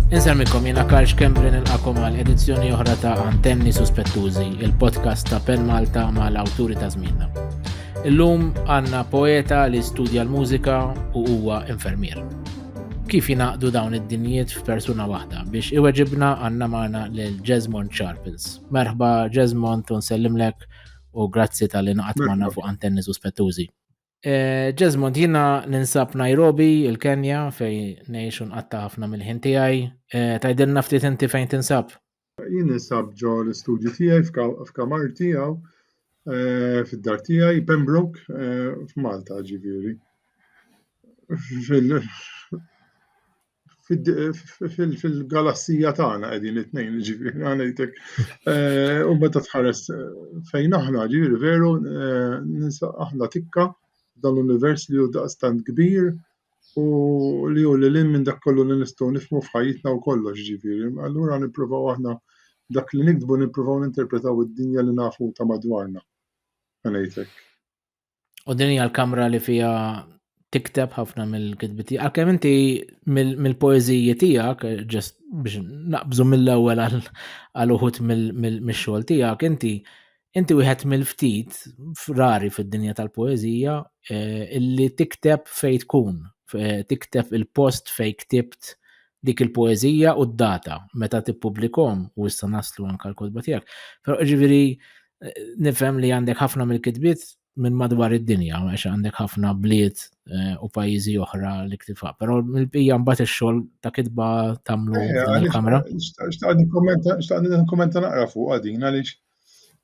Inselmikom jena Karl Xkembrin il-akom għal edizzjoni oħra ta' Antenni Suspettużi, il-podcast ta' Pen Malta ma' l-awturi ta' zmina. Illum għanna poeta li studja l-mużika u huwa infermier. Kif jinaqdu dawn id-dinjiet f'persuna waħda biex iweġibna għanna maħna l-Jesmond Sharples. Merħba Jesmond, unsellimlek u grazzi tal-inqat maħna fuq Antenni Suspettużi. Ġesmond, eh, jina ninsab Nairobi, il-Kenja, fej nejxu nqatta ħafna mill-ħin tijaj. Eh, Tajdilna ftit inti fejn tinsab? Jien ninsab ġo l-istudju tijaj f'kamar tijaw, eh, fid-dar tijaj, Pembroke, f'Malta ġiviri. fil-galassija tagħna qegħdin it-tnejn, ġifieri ngħidlek. Eh, u meta tħares eh, fejn aħna, ġifieri veru eh, ninsa aħna tikka dan l-univers li hu daqstant kbir u li hu li lin minn dak kollu li nistgħu nifhmu f'ħajjitna u kollox ġifieri. Allura nippruvaw aħna dak li nikdbu nippruvaw ninterpretaw id-dinja li nafu ta' madwarna. Ngħidlek. U din hija l-kamra li fija tikteb ħafna mill-kitbiti. Għalkemm inti mill-poeziji tiegħek, ġest biex naqbżu mill-ewwel għal uħut mill-xogħol tiegħek, inti inti wieħed mill-ftit rari fid-dinja tal-poezija eh, illi tikteb fejn tkun, eh, tikteb il-post fejn ktibt dik il-poeżija u d-data meta tippubblikhom u issa naslu anke l-kotba tiegħek. Però ġifieri eh, nifhem li għandek ħafna mill-kitbiet minn madwar id-dinja, għax għandek ħafna bliet eh, u pajjiżi oħra li ktifa. Però mill-bija mbagħad ix-xogħol ta' kitba tagħmlu eh, il-kamra. Xtaqni nikkommenta naqra fuq għadin għaliex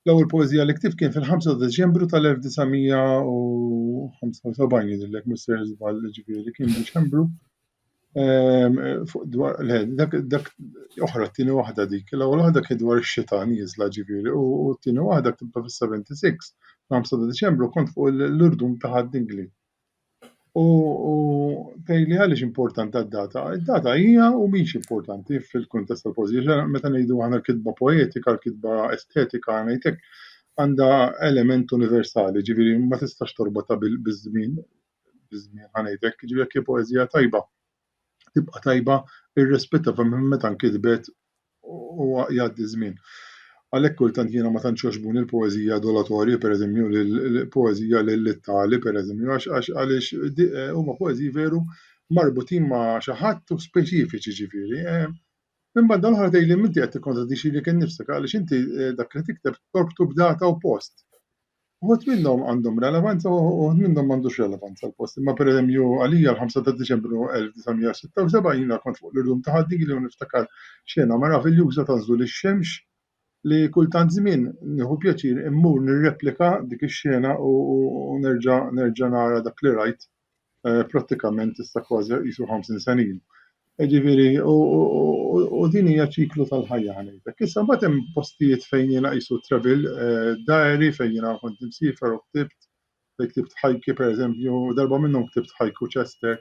l-ewwel poeżija li ktif kien fil-5 Deċembru tal-1975 jidhirlek Mr. Żball ġifieri kien Deċembru fuq dwar le dak dak oħra t-tieni waħda dik. L-ewwel waħda kien dwar ix-xita nieżla ġifieri u t-tieni waħda ktibta fis-76 l-5 ta' Diċembru kont fuq l-urdum ta' Ħadd Dingli. U tgħidli għaliex importanti d-data? Id-data hija u mhix importanti fil-kuntest tal-poeżija. Meta ngħidu aħna l-kitba poetika, l-kitba estetika ngħid hekk, għandha element universali, ġifieri ma tistax torbotha biż-żmien. biż-żmien ħa ngħid hekk, jiġifieri jekk hi poeżija tajba tibqa' tajba irrispettivament meta nkitbet u jgħaddi żmien. Għalhekk kultant jiena ma tantx jogħġbuni l-poeżija dolatorji, pereżempju l-poeżija lill-tali, pereżempju, għax għax għaliex eh, huma poeżiji veru marbutin ma' xi ħadd u speċifiċi ġifieri. Eh. Minn banda l-oħra tgħidli minti qed tikkontradixxi li kien nifsek għaliex inti eh, dak li tikteb torbtu b'data u post. Uħud minnhom għandhom relevanza u uħud minnhom m'għandux relevanza għal post Imma pereżempju għalija l-5 ta' Diċembru 1976 jiena kont fuq l-irdum ta' ħaddigi li u niftakar xena meraviljuża ta' nżul ix-xemx li kull tant żmien nieħu pjaċir immur nirreplika dik ix-xena u nerġa' nerġa' nara dak li rajt. prattikament issa kważi qisu 50 sena ilu. Ġifieri, u din hija ċiklu tal-ħajja ħanejtek. Issa mbagħad hemm postijiet fejn jiena qisu travel eh, diary fejn jiena kont imsiefer u ktibt, fejn ktibt ħajki pereżempju, darba minnhom ktibt ħajku Chester.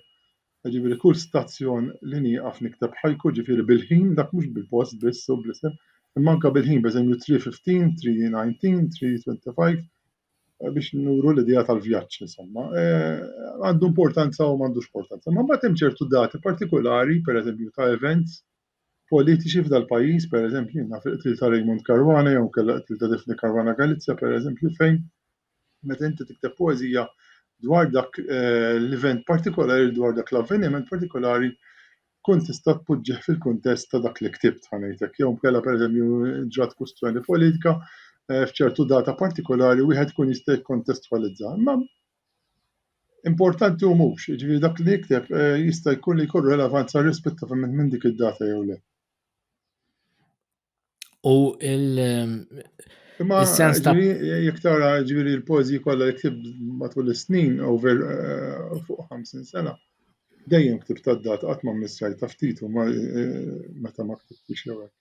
Ġifieri kull stazzjon li nieqaf nikteb ħajku, ġifieri bil-ħin, dak mhux bil-post biss u bl-isem, imma anke bil-ħin, pereżempju 3:15, 3:19, 3:25, eh, biex nuru l-idea tal-vjaġġ, insomma, eh, għandu importanza u m'għandux importanza. Ma mbagħad hemm ċertu dati partikolari, per eżempju, ta' events politiċi f'dal pajjiż, per eżempju, naf il-qtil ta' Raymond Caruana jew kellha qtil ta' Defni Caruana Galizja, per eżempju, fejn meta inti tikteb poeżija dwar dak eh, l-event partikolari, dwar dak l-avveniment partikolari, tkun tista' tpoġġih fil-kuntest ta' dak li ktibt ħa ngħid hekk, jew inkella pereżempju ġrat kwistjoni politika eh, f'ċertu data partikolari wieħed ikun jista' jikkontestwalizza. Imma importanti u mhux, jiġifieri dak li jikteb eh, jista' jkun li jkun relevanza rispettivament minn dik id-data jew le. U il-sens ta' jek tara ġviri l-pozi kolla li ktib matul l-snin, over eh, fuq 50 sena, dejjem ktib ta' dat għat ma' missaj ta' ftitu ma' eh, ta' ma' ktib biex jawek.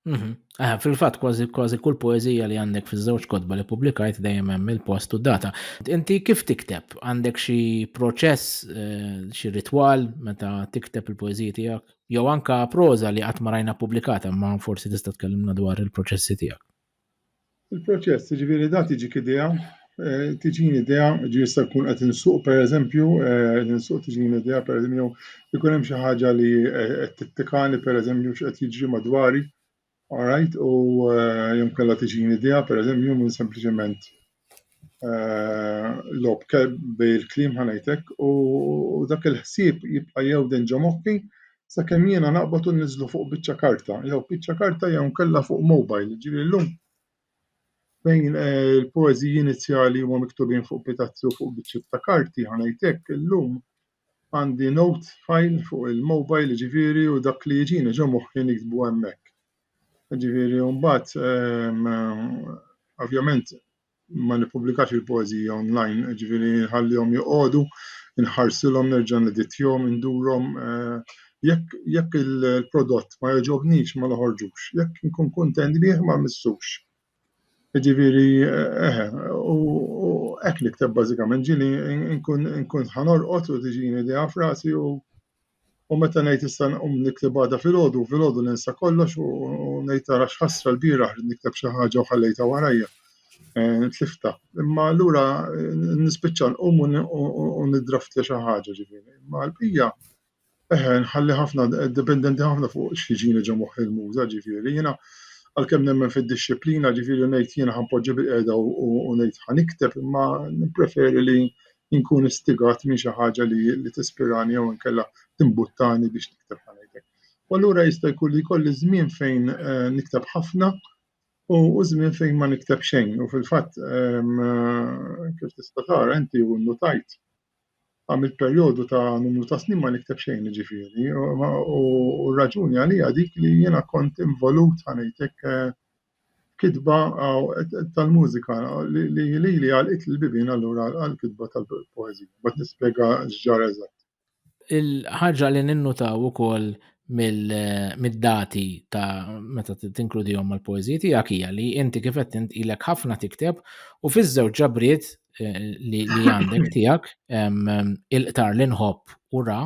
Mhm. Eh, fil-fat, kważi kważi kull poezija li għandek fiż-żewġ kodba li publikajt dejjem hemm il-post u data. Inti kif tikteb? Għandek xi proċess, eh, xi ritwal meta tikteb il-poeżiji tiegħek? Jew anka proża li qatt ma rajna ppubblikata, imma forsi tista' tkellimna dwar il-proċessi tiegħek. Il-proċess, ġifieri da tiġik idea, eh, tiġini idea, ġifieri jista' jkun qed insuq pereżempju, eh, ninsuq tiġini idea pereżempju jew ikun hemm xi ħaġa li eh, qed tittikani pereżempju x'qed jiġri madwari, All right, u eh, jom kalla tiġini idea, per eżempju, minn sempliciment eh, lob bil-klim ħanajtek u dak il-ħsib jibqa jew din ġomokki sa' kem jiena naqbatu u nizlu fuq bicċa karta, jew bicċa karta jew kalla fuq mobile, ġiri l-lum fejn eh, il-poeziji inizjali huma miktubin fuq pitazzi u fuq biċċiet ta' karti ħanajtek illum għandi note file fuq il-mobile jiġifieri u dak li jiġini ġo moħħi niktbu hemmhekk. Jiġifieri u mbagħad ehm, ovvjament ma nippubblikax il-poeżija online, jiġifieri nħallihom joqogħdu, nħarsilhom nerġa' neditjhom, indurhom eh, jekk jekk il-prodott ma jogħġobnix ma noħorġux, jekk nkun kuntent bih ma missux. Jiġifieri, eħe, u hekk nikteb bażikament, ġieli nkun ħa norqod u tiġini idea f'rasi u u meta ngħid issa nqum nikteb għada filgħodu, filgħodu ninsa kollox u ngħid ara x'ħasra lbieraħ ridt nikteb xi ħaġa u ħallejtha warajja, tliftha. Imma allura nispiċċa nqum u niddraftja xi ħaġa, ġifieri. Imma l-bqija, Eħe, nħalli ħafna, dipendenti ħafna fuq x'jiġini ġo moħħi l-muża, ġifieri. Jiena għalkemm nemmen fid-dixxiplina, ġifieri ngħid jiena ħanpoġġi bil-qiegħda u ngħid ħanikteb, imma nippreferi li nkun istigat minn xi ħaġa li li tispirani jew inkella timbuttani biex nikteb ħanejtek. U allura jista' jkun li jkolli żmien fejn eh, nikteb ħafna u żmien fejn ma nikteb xejn. U fil-fatt eh, kif tista' tara inti u nnutajt għamilt perjodu ta' numru ta' snin ma nikteb xejn jiġifieri u r-raġuni għaliha dik li jiena kont involut ħa ngħid hekk f'kitba tal-mużika li lili għalqitli l-bibien allura għall-kitba tal-poeżija. Mbagħad nispjega x'ġara eżatt. Il-ħaġa li ninnutaw ukoll mid-dati ta' meta tinkludihom mal-poeżiji tiegħek hija li inti kif qed int ilek ħafna tikteb u fiż-żewġ ġabriet eh, li għandek tiegħek il-qtar li nħobb u ra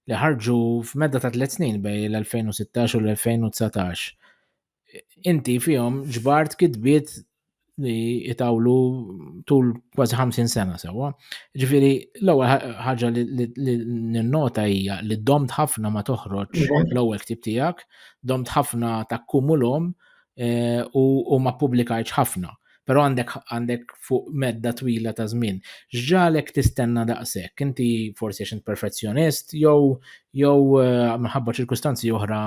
li ħarġu f'medda ta' tliet snin bej l-2016 u l-2019. Inti fihom ġbart kitbiet li jitawlu tul kważi 50 sena sewa. Ġifiri, l-ewwel ħaġa li ninnota hija li domt ħafna ma toħroġ l-ewwel ktib tiegħek, domt ħafna ta' kumulhom eh, u ma publikajċ ħafna. Però għandek għandek fuq medda twila ta' żmien. X'ġalek tistenna daqshekk? Inti forsi għax int perfezzjonist jew jew eh, minħabba ċirkustanzi oħra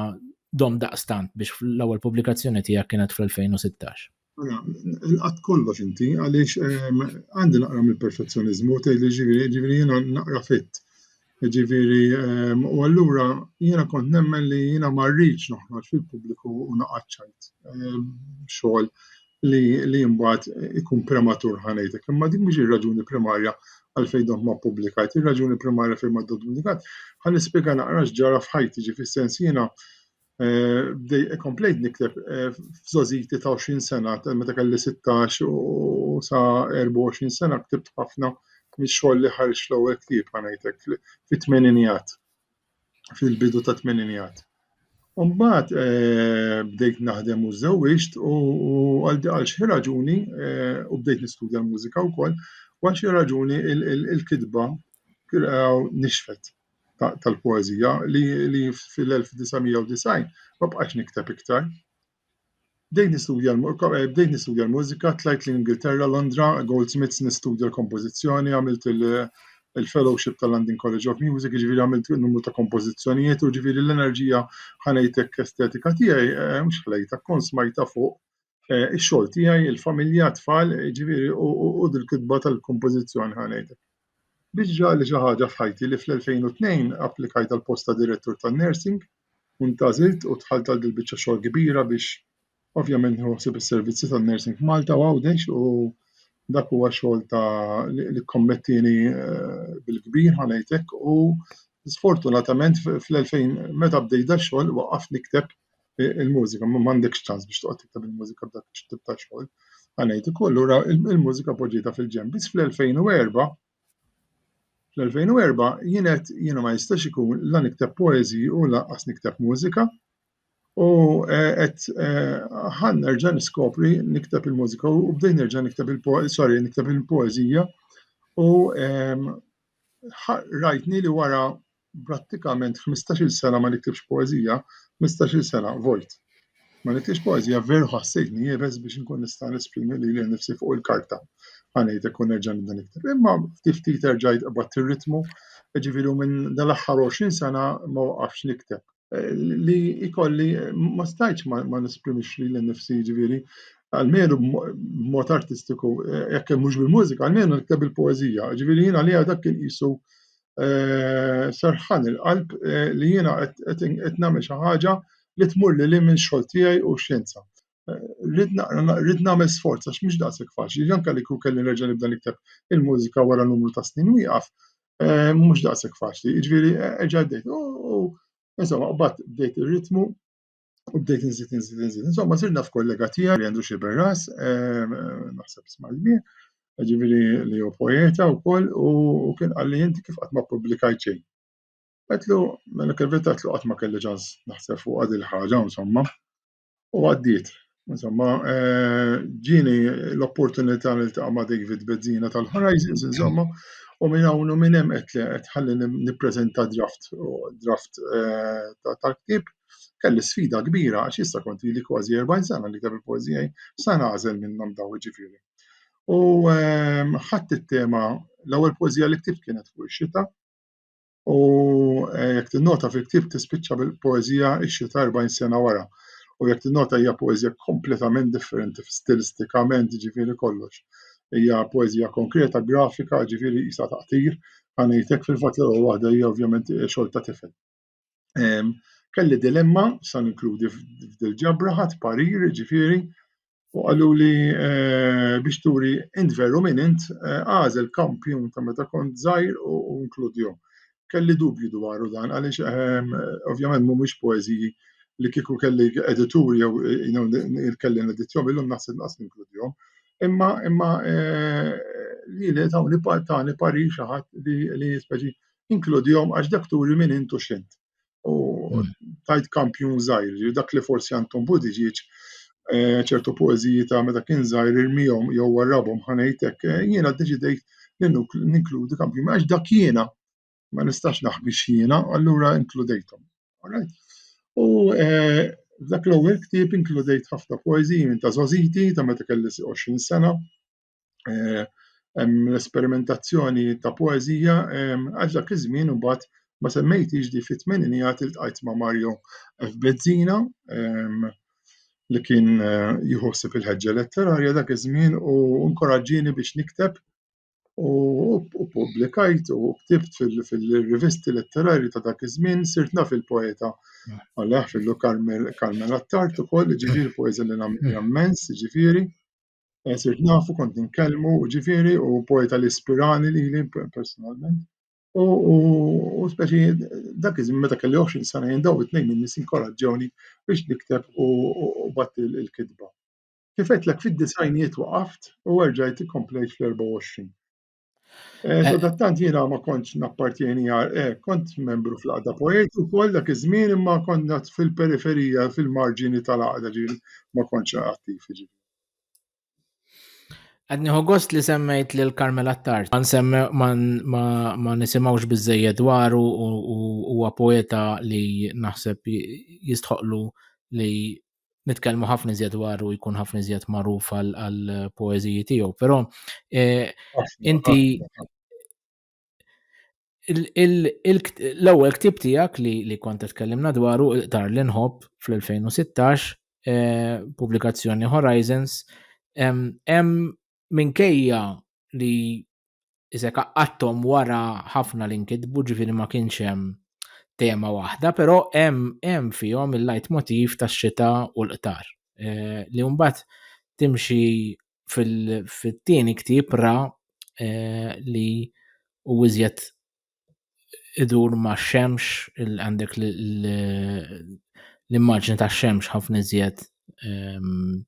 dom daqstant biex l-ewwel pubblikazzjoni tiegħek kienet fl-2016. Mela, inqatt kollox inti, għaliex ehm, għandi naqra mill-perfezzjonizmu, tgħid li ġifieri ġifieri jiena naqra fit. Jiġifieri, u allura jiena kont nemmen li jiena ma rridx noħroġ fil-pubbliku u naqgħad ċajt. Xogħol li li mbagħad ikun prematur ħa ngħidlek, imma dik mhix ir-raġuni primarja għalfejn dont ma ppubblikajt. Ir-raġuni primarja fejn ma dont pubblikat ħa nispjega naqra x'ġara f'ħajti, ġifi sens jiena eh, komplejt nikteb eh, f'żożiti ta' 20 sena, meta kelli 16 u sa 24 sena ktibt ħafna mix-xogħol li ħarġ l-ewwel ktieb ħanajtek fit-tmeninijat, fil-bidu ta' tmeninijat. Umbat eh, bdejt naħdem u żewġt u għal xi raġuni eh, u bdejt nistudja l-mużika wkoll, għal xi raġuni il-kitba nixfet. tal-poeżija li fil-1990 ma bqajtx nikteb iktar. Bdejt nistudja bdejt nistudja l-mużika, tlajt l-Ingilterra, Londra, Goldsmiths nistudja l-kompożizzjoni, għamilt il-fellowship tal-London College of Music, jiġifieri għamilt numru ta' kompożizzjonijiet u jiġifieri l-enerġija ħa ngħidlek estetika tiegħi mhux ħlejtha, kont smajtha fuq eh, ix-xogħol tiegħi, il-familja, tfal, ġifieri u dil-kitba tal-kompożizzjoni ħanejtek. Biex ġali xi ħaġa f'ħajti li fl-2002 applikajt għal posta direttur tan-nursing, untażilt u tħalt għal dil-biċċa xogħol kbira biex ovvjament nħossib is-servizzi tan-nursing f'Malta u Għawdex u dak huwa xogħol ta' li kommettini eh, bil-kbir ħanejtek u sfortunatament fl-2000 meta bdejt da xogħol waqaf nikteb il-mużika, ma m'għandekx ċans biex toqgħod tikteb il-mużika b'dak it-tip ta' xogħol. Għanajt ukoll ura il-mużika poġġieta fil-ġenb. Biss fl-2004 fl-2004 jienet jiena ma jistax ikun la nikteb poezi u laqqas nikteb mużika u eh, qed eh, ħan nerġa' niskopri nikteb il-mużika u bdejt nerġa' nikteb il poezi sorry, nikteb il-poeżija u ehm, rajtni li wara Prattikament ħmistax-il sena ma niktibx poeżija, ħmistax-il sena vojt. Ma niktibx poeżija, veru ħassejtni iebes biex inkun nista' nesprimi lili nnifsi fuq il-karta, ħa ngħid hekk u nerġa' nibda nikteb. Imma ftit ftit erġajt qbadt ir-ritmu, jiġifieri u minn dal-aħħar għoxrin sena ma waqaftx nikteb. li jkolli ma stajtx ma nesprimix li l-nifsi ġviri, għalmenu b'mod artistiku, eh, jekk mhux bil-mużika, għalmenu nikteb il-poezija, ġviri jiena li għadak kien qisu eh, serħan il-qalb eh, li jiena qed nagħmel xi ħaġa li tmur li minn xogħol tiegħi u xjenza. Rrid nagħmel sforz għax mhux daqshekk faċli, anke li kien kelli nerġa' nibda nikteb il-mużika wara numru ta' snin wieqaf, eh, mhux daqshekk faċli, jiġifieri eh, erġa' bdejt. U insomma, qbad bdejt ir-ritmu u bdejt inżid inżid inżid. Insomma, sir naf kollega tiegħi li għandu xi berras, eh, naħseb isma' l-mien, ġifieri li hu poeta wkoll u kien qal li inti kif qatt ma ppubblikajt xejn. Għetlu, mela kif vetatlu qatt ma kelli ġans naħseb fuq għad il-ħaġa, insomma. U għaddiet. Insomma, eh, ġini l-opportunità li ta' ma' David Bezzina tal-Horizons, insomma, u minn hawn u minn hemm qed ħalli nippreżenta draft draft eh, ta' ktib kelli sfida kbira għax issa kont li kważi 40 sena li ktabi poezija sa nagħżel minnhom daw ġifieri. U eh, ħadd it-tema l-ewwel poezija li ktibt kienet fuq ix-xita, u eh, jekk tinnota fil-ktieb tispiċċa bil-poeżija ix-xita 40 sena wara. U jekk tinnota hija poeżija kompletament differenti stilistikament ġifieri kollox. Hija poeżija konkreta, grafika, ġifieri jisa taqtir, għanejtek fil-fatt l waħda hija ovvjament eh, xogħol ta' tifel. Kelli dilemma, sa' inkludi f'dil-ġabra, ħadd parir, ġifieri, U qaluli biex turi int veru min int, għażel kampjun ta' meta kont żgħir u inkludihom. Kelli dubju dwaru dan għaliex ovvjament mhumiex poeżiji li kieku kelli editur jew kelli nedittjom illum naħseb nqas ninkludihom. Imma imma lili tawni tani parir xi ħadd li speċi inkludihom għax dak turi min int u x'int. U hmm. tajt kampjun zaħir, dak li forsi għantom budiġiċ, eh, ċertu poeziji ta' meta kien zaħir irmijom jew warrabom ħanajtek, eh, jiena deċidejt ninkludi kampjun, għax dak jiena ma nistax naħbi xiena, allura inkludejtom. U eh, dak l-ewwel ktieb inkludejt ħafna poeziji minn ta' Zoziti ta' meta kelli 20 sena, eh, l-esperimentazzjoni ta' poezija għax dak iż-żmien imbagħad ma semmejtix di fit-tmeninijat iltqajt ma' Mario F. Bezzina li kien eh, jħossib il-ħeġġa letterarja dak iż-żmien u nkoraġġini biex nikteb u publikajt u ktibt fil-rivisti letterarji ta' dak iż-żmien sirt naf il-poeta għalih fillu Carmel Attart ukoll ġifieri poeża li nagħmel immens ġifieri. Eh, sirt nafu kont nkellmu ġifiri u poeta li spirani li li personalment. U speċi dak iżmin meta kelli 20 sena jindaw it-tnejn minn nis inkoraġġewni biex nikteb u batt il-kitba. Kifet l fid-disajnijiet waqaft u erġajt komplejt fl-24. Eh, eh. Sadattant jiena ma kontx nappartjeni għal eh, kont membru fl-għada poeti u koll dak iż-żmien imma konna fil-periferija, fil-marġini tal-għada ġil ma kontx attiv ġil. Għadni gost li semmejt li l-Karmel Attard, ma nsemme ma nisimawx bizzejja dwaru u huwa poeta li naħseb jistħoqlu li nitkellmu ħafna iżjed dwaru u jkun ħafna iżjed magħruf għal poeżiji tiegħu, però eh, inti l-ewwel ktib tiegħek li kont tkellimna dwaru dar li nħobb fl-2016 eh, pubblikazzjoni Horizons hemm minkejja li iżek qaqqattom wara ħafna li nkitbu ġifieri ma kienx hemm tema waħda, però hemm hemm fihom il-lajt motiv tax-xita u l-qtar. Eh, li mbagħad timxi fil-tieni ktieb ra eh, li u iżjed idur ma' xemx, għandek l-immaġni ta' xemx ħafna iżjed ehm,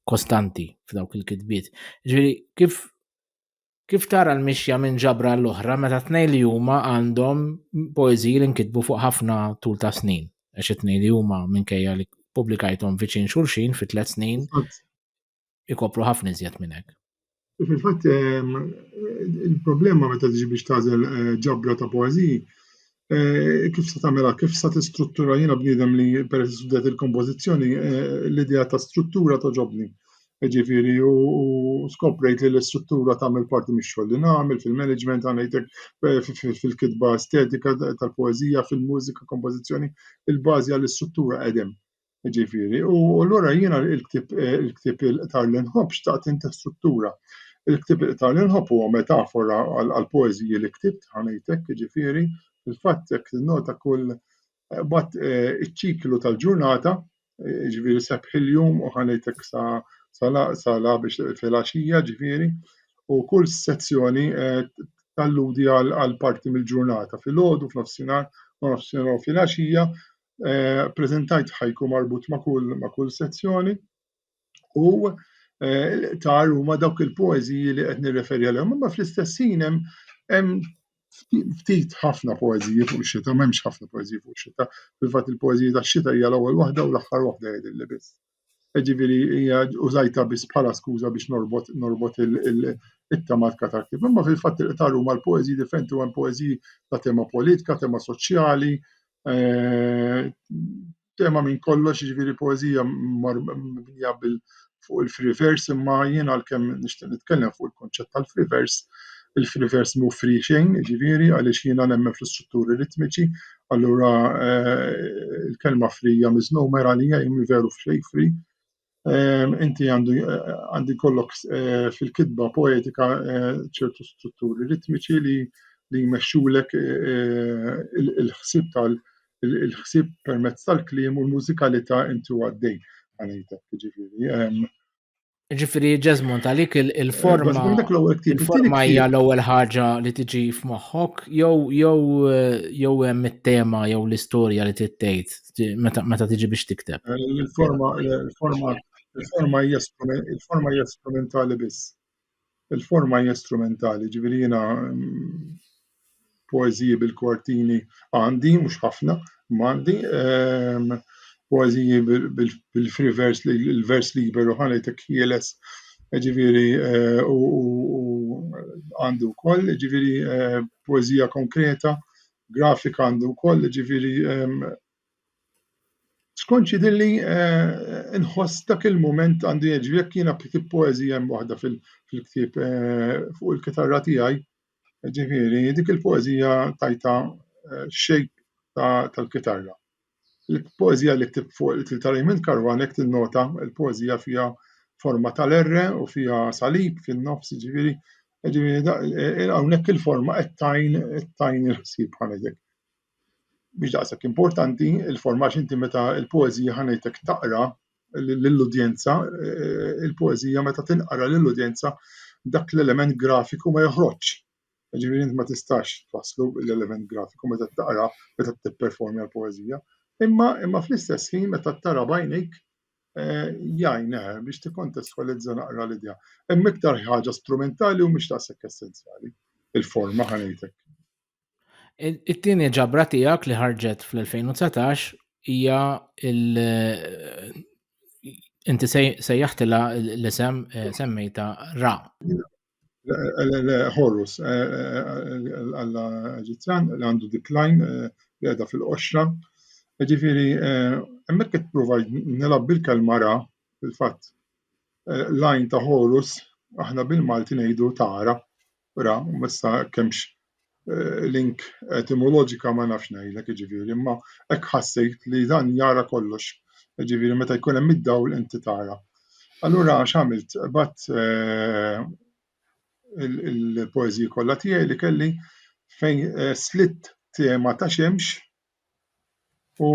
kostanti f'dawk il-kitbiet. Ġiri, kif Kif tara l-mixja minn ġabra l-oħra meta tnej li huma għandhom poeżiji li nkitbu fuq ħafna tul ta' snin, għax it-tnej li huma minkejja li publikajthom viċin xulxin fi tliet snin, ikopru ħafna iżjed minn hekk. Fil-fatt, ehm, il-problema meta tiġi biex tażel eh, ġabra ta' poeżiji, eh, kif sa tagħmilha, kif sa tistruttura jiena bniedem li peress studjat il-kompożizzjoni, eh, l-idea ta' struttura toġobni. Ġifieri u skoprejt li l-istruttura tagħmel parti mix-xogħol li nagħmel fil-management għandek fil-kitba estetika tal-poeżija, fil-mużika, kompożizzjoni, il-bażi għall-istruttura qegħdem. Jiġifieri, u allura jiena l-ktieb il-ktieb il-qtar li nħobb xtaqt inti struttura. Il-ktieb il-qtar li nħobb huwa metafora għall-poeżiji li ktibt ħanejtek, jiġifieri, fil-fatt jekk tinnota kull bat eh, iċ-ċiklu tal-ġurnata, jiġifieri sepp il-jum u ħanejtek sa sala biex fil-għaxija, jiġifieri, u kull sezzjoni eh, talludi għal parti mill-ġurnata, fil-ħodu, f'nofsinhar, u nofsinhar fil-għaxija, eh, preżentajt ħajku marbut ma' kull ma' kull sezzjoni u eh, l-iqtar huma dawk il-poeżiji li qed nirreferi għalihom, imma fl-istess hemm hemm ftit ħafna poeżiji fuq xita, m'hemmx ħafna poeżiji fuq xita. Fil-fatt il-poeżiji tax-xita hija l-ewwel waħda u l-aħħar waħda jgħidilli biss. Ġifieri hija użajtha biss bħala skuża biex norbot norbot it-tema tal-ktieb. Imma fil-fatt il-qtar huma l-poeżiji differenti u hemm poeżiji ta' tema politika, tema soċjali, eh, tema minn kollox, ġifieri poeżija mibnija bil fuq il-free verse, imma jien għalkemm nixtieq nitkellem fuq il-konċett tal-free verse, il-free verse mhu free xejn, ġifieri għaliex jiena nemmen fl-istrutturi ritmiċi, Allura il-kelma free hija miżmuma għalija jien veru f'xejn free. Inti għandu għandi kollok fil-kitba poetika ċertu strutturi ritmiċi li li jmexxulek il-ħsieb tal il-ħsieb permezz tal-kliem u l-mużikalità inti għaddej. Għanejtek, ġifieri. Ġifiri, ġezmon, talik il-forma. Il-forma hija l-ewwel ħaġa li tiġi f'moħħok, jew jew eh, jew hemm it-tema jew l-istorja li tittejt meta tiġi biex tikteb. Eh, il-forma il-forma il-forma hija il-forma hija sperimentali biss. Il-forma hija strumentali, jiġifieri jiena poeżiji bil-kwartini għandi, mhux ħafna, imma għandi. Ehm, poeżiji bil-free vers, il-vers liberu ħanejtek ħieles, ġifieri eh, u għandu wkoll, ġifieri eh, poeżija konkreta, grafika għandu wkoll, ġifieri ehm, Skonċi dilli nħoss dak il-mument għandu jiġri jekk jiena kitib poeżija hemm waħda fil-ktieb fuq il-kitarra tiegħi, ġifieri dik il-poeżija tajtha shape tal-kitarra. Il-poeżija li ktibt fuq ta' Raymond Caruana jekk tinnota l-poeżija fiha forma tal-erre u fiha salib fin-nofs, jiġifieri hawnhekk il-forma qed tgħin tgħin il-ħsieb. mhix daqshekk importanti il-forma x'inti meta l-poeżija ħa ngħidlek taqra lill-udjenza, eh, il-poeżija meta tinqara lill-udjenza dak l-element grafiku ma joħroġx. Ġifieri int ma tistax twasslu l-element grafiku meta taqra meta tipperformja l-poeżija. Imma imma fl-istess ħin meta tara bajnejk eh, jgħin eh, biex tikkontestwalizza naqra l-idea. Hemm iktar ħaġa strumentali u mhix daqshekk essenzjali il-forma ħanejtek. It-tieni ġabra tiegħek li ħarġet fl-2019 hija il inti sejjaħtilha l-isem eh, semmejta Ra. Horus, eh, eh, l-alla Eġizzjan li għandu diklajn li għedha fil-qoxra. Ġifiri, emmek qed prova nilab bil-kelma ra, fil-fatt, lajn ta' Horus, aħna bil-Malti ngħidu tara, Ra, issa hekk hemmx eh, link etimoloġika ma nafx ngħidlek jiġifieri, imma hekk ħassejt li dan jara kollox. Jiġifieri meta jkun hemm id-dawl inti tara. Allura x'għamilt? Bat eh, il-poeżiji kollha tiegħi li kelli fejn eh, slitt tema ta' xemx u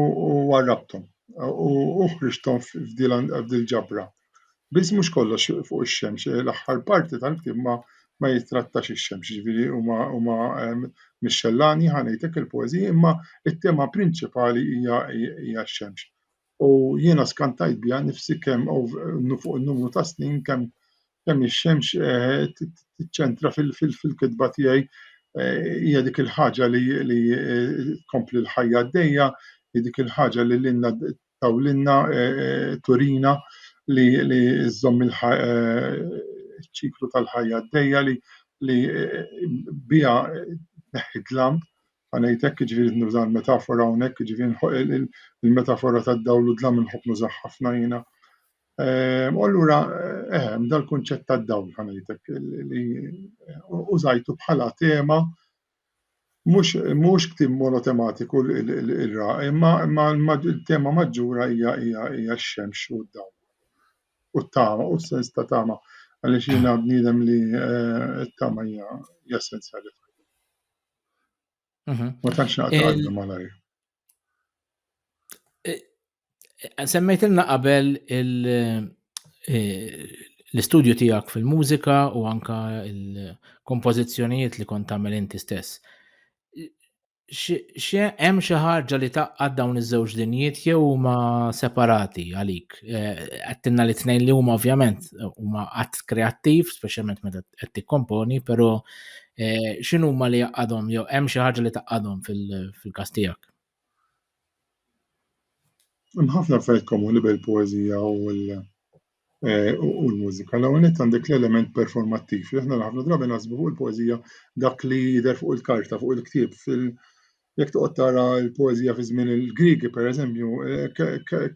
warrabthom u ħriġthom f'dil ġabra. Biss mhux kollox fuq ix-xemx, l-aħħar parti tal-ktieb ma ma jittrattax ix-xemx, jiġifieri huma huma mix-xellani ħa ngħid hekk il-poeżiji imma t-tema prinċipali hija hija x-xemx. U jiena skantajt biha nnifsi kemm fuq numru ta' snin kemm Dan ix-xemx tiċċentra fil-kitba tiegħi hija dik il-ħaġa li tkompli l-ħajja għaddejja, hi dik il-ħaġa li lilna tawlilna turina li żżomm iċ-ċiklu tal-ħajja għaddejja li biha tneħħi d-dlam, ngħid hekk jiġifieri nuża l-metafora hawnhekk, jiġifieri il-metafora tad-dawl u d-dlam inħobb nużaha ħafna jiena. Ehm, u allura ehm, dal-kunċett tad-dawl ħanajtek li użajtu bħala tema mhux ktim monotematiku l-ra, imma il-tema maġġura hija hija x-xemx u d-dawl. U t-tama, u s-sens ta' tama, għaliex jiena bniedem li eh, t-tama hija essenzjali. Mhm. Ma tantx naqta' malajr. Eh, eh, semmejtilna qabel eh, l-istudju tiegħek fil-mużika u anka il-kompożizzjonijiet li kont tagħmel inti stess. Hemm xi ħaġa li taqqad dawn iż-żewġ dinjiet jew huma separati għalik? Għattinna li tnejn li huma ovvjament huma qatt kreattiv, speċjalment meta qed tikkomponi, però Eh, xinu ma li jaqqadhom, jew hemm xi ħaġa li taqqadhom fil-każ tiegħek? Hemm ħafna affarijiet komuni bil poezija u l- eh, u l-mużika. L-ewwel nett għandek l-element performattiv li aħna ħafna drabi naħsbu fuq il-poeżija dak li jidher fuq il-karta, fuq il-ktieb, fil- Jekk toqgħod tara l-poeżija fi żmien il-Griegi, pereżempju,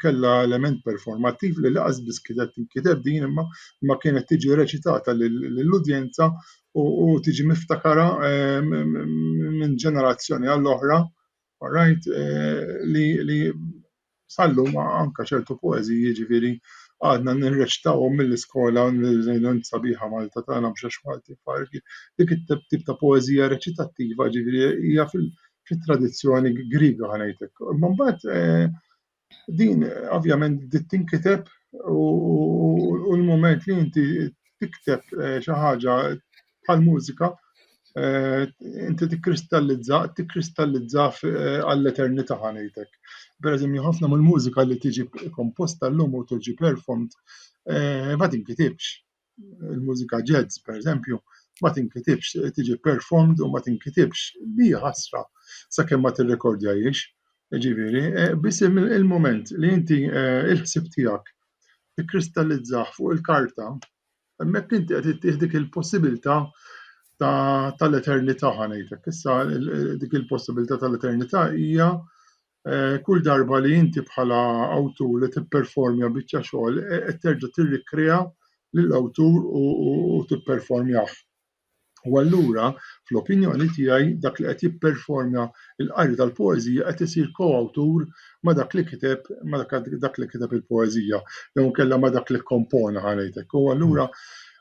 kellha element performattiv li laqas biss kienet tinkiteb din imma ma kienet tiġi reċitata lill-udjenza u tiġi miftakara minn ġenerazzjoni għall-oħra, all right, li sal-lum anke ċertu poeżiji jiġifieri għadna nirreċitawhom mill-iskola sabiħa Malta tagħna mhux għax Maltin f'għarfien dik it-tip ta' poeżija reċitattiva jiġifieri hija fit-tradizzjoni Griega ħa ngħid hekk imma mbagħad din ovvjament bdiet tinkiteb u l-mument li inti tikteb xi ħaġa bħal mużika Eh, inti tikkristallizza, tikkristallizza eh, għall-eternità ħanejtek. Per eżempju, ħafna mill-mużika li tiġi komposta l-lum u tiġi performed eh, ma tinkitibx. Il-mużika jazz, per eżempju, ma tinkitibx, tiġi performed u ma tinkitibx. Di ħasra sakemm ma tirrekordja jiex. Ġiviri, biss il-moment li inti il-ħsib tiegħek tikkristallizzaħ fuq il-karta, Hemmhekk inti qed ittieħ dik il-possibilità tal-eternità ħanejtek. Issa dik il-possibilità tal-eternità hija eh, kull darba li inti bħala awtur li tipperformja biċċa xogħol eh, qed terġa' tirrikrea lill-awtur u tipperformjah. U allura, fl-opinjoni tiegħi, dak li qed jipperforma l-qari tal-poeżija qed isir ko-awtur ma' dak li kiteb, ma' dak li kiteb il-poeżija, jew inkella ma' dak li kkompona, ħa ngħid hekk. U allura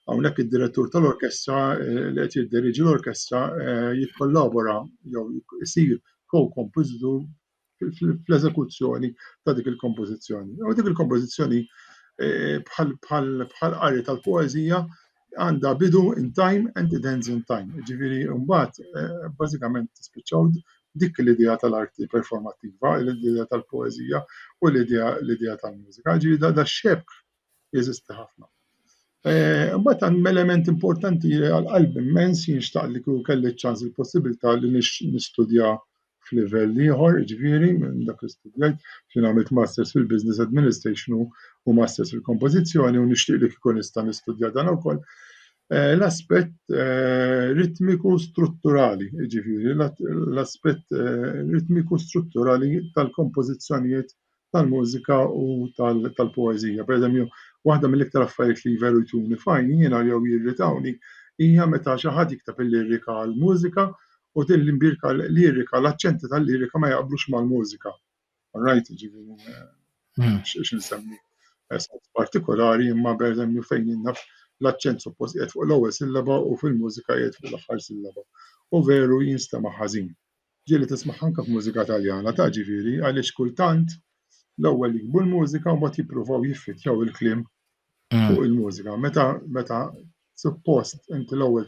hawnhekk id-direttur tal-orkestra li qed jidderiġi l-orkestra jikkollabora jew isir ko-kompożitur fl-eżekuzzjoni ta' dik il-kompożizzjoni. U dik il-kompożizzjoni eh, bħal qari tal-poeżija għandha bidu in time and it ends in time. Ġifieri mbagħad eh, bażikament tispiċċaw dik l-idea tal-arti performattiva, l-idea tal-poeżija u l-idea tal-mużika. Ġifieri da xebk Jeżisti ħafna. Mbagħad hemm element importanti għal qalb immens jien xtaq li kieku kelli ċ-ċans il-possibilità li nistudja f'livell ieħor, ġifieri minn dak li studjajt, xi għamilt masters fil-business administration u masters fil-kompożizzjoni u nixtieq li kieku nista' nistudja dan ukoll. Eh, l-aspett eh, ritmiku strutturali, ġifieri l-aspett eh, ritmiku strutturali tal-kompożizzjonijiet tal-mużika u tal-poeżija. Pereżempju, waħda mill-iktar affarijiet li veru jtuni f'għajni jiena jew jirritawni hija meta xi ħadd jikteb il-lirika għall-mużika u din l-imbierka lirika, l-aċċenti tal-lirika ma jaqblux mal-mużika. All right, jiġifieri hmm. x'insemmi. nsemmi sens partikolari imma pereżempju fejn jinnaf l-aċċent suppost qiegħed fuq l-ewwel sillaba u fil-mużika qiegħed fuq l-aħħar sillaba. U veru jinstema' ħażin. ġieli tismagħha anke f'mużika Taljana ta' ġifieri għaliex kultant l-ewwel jikbu l-mużika u mbagħad jippruvaw jiffittjaw il-kliem mm. fuq il-mużika. Meta meta suppost inti l-ewwel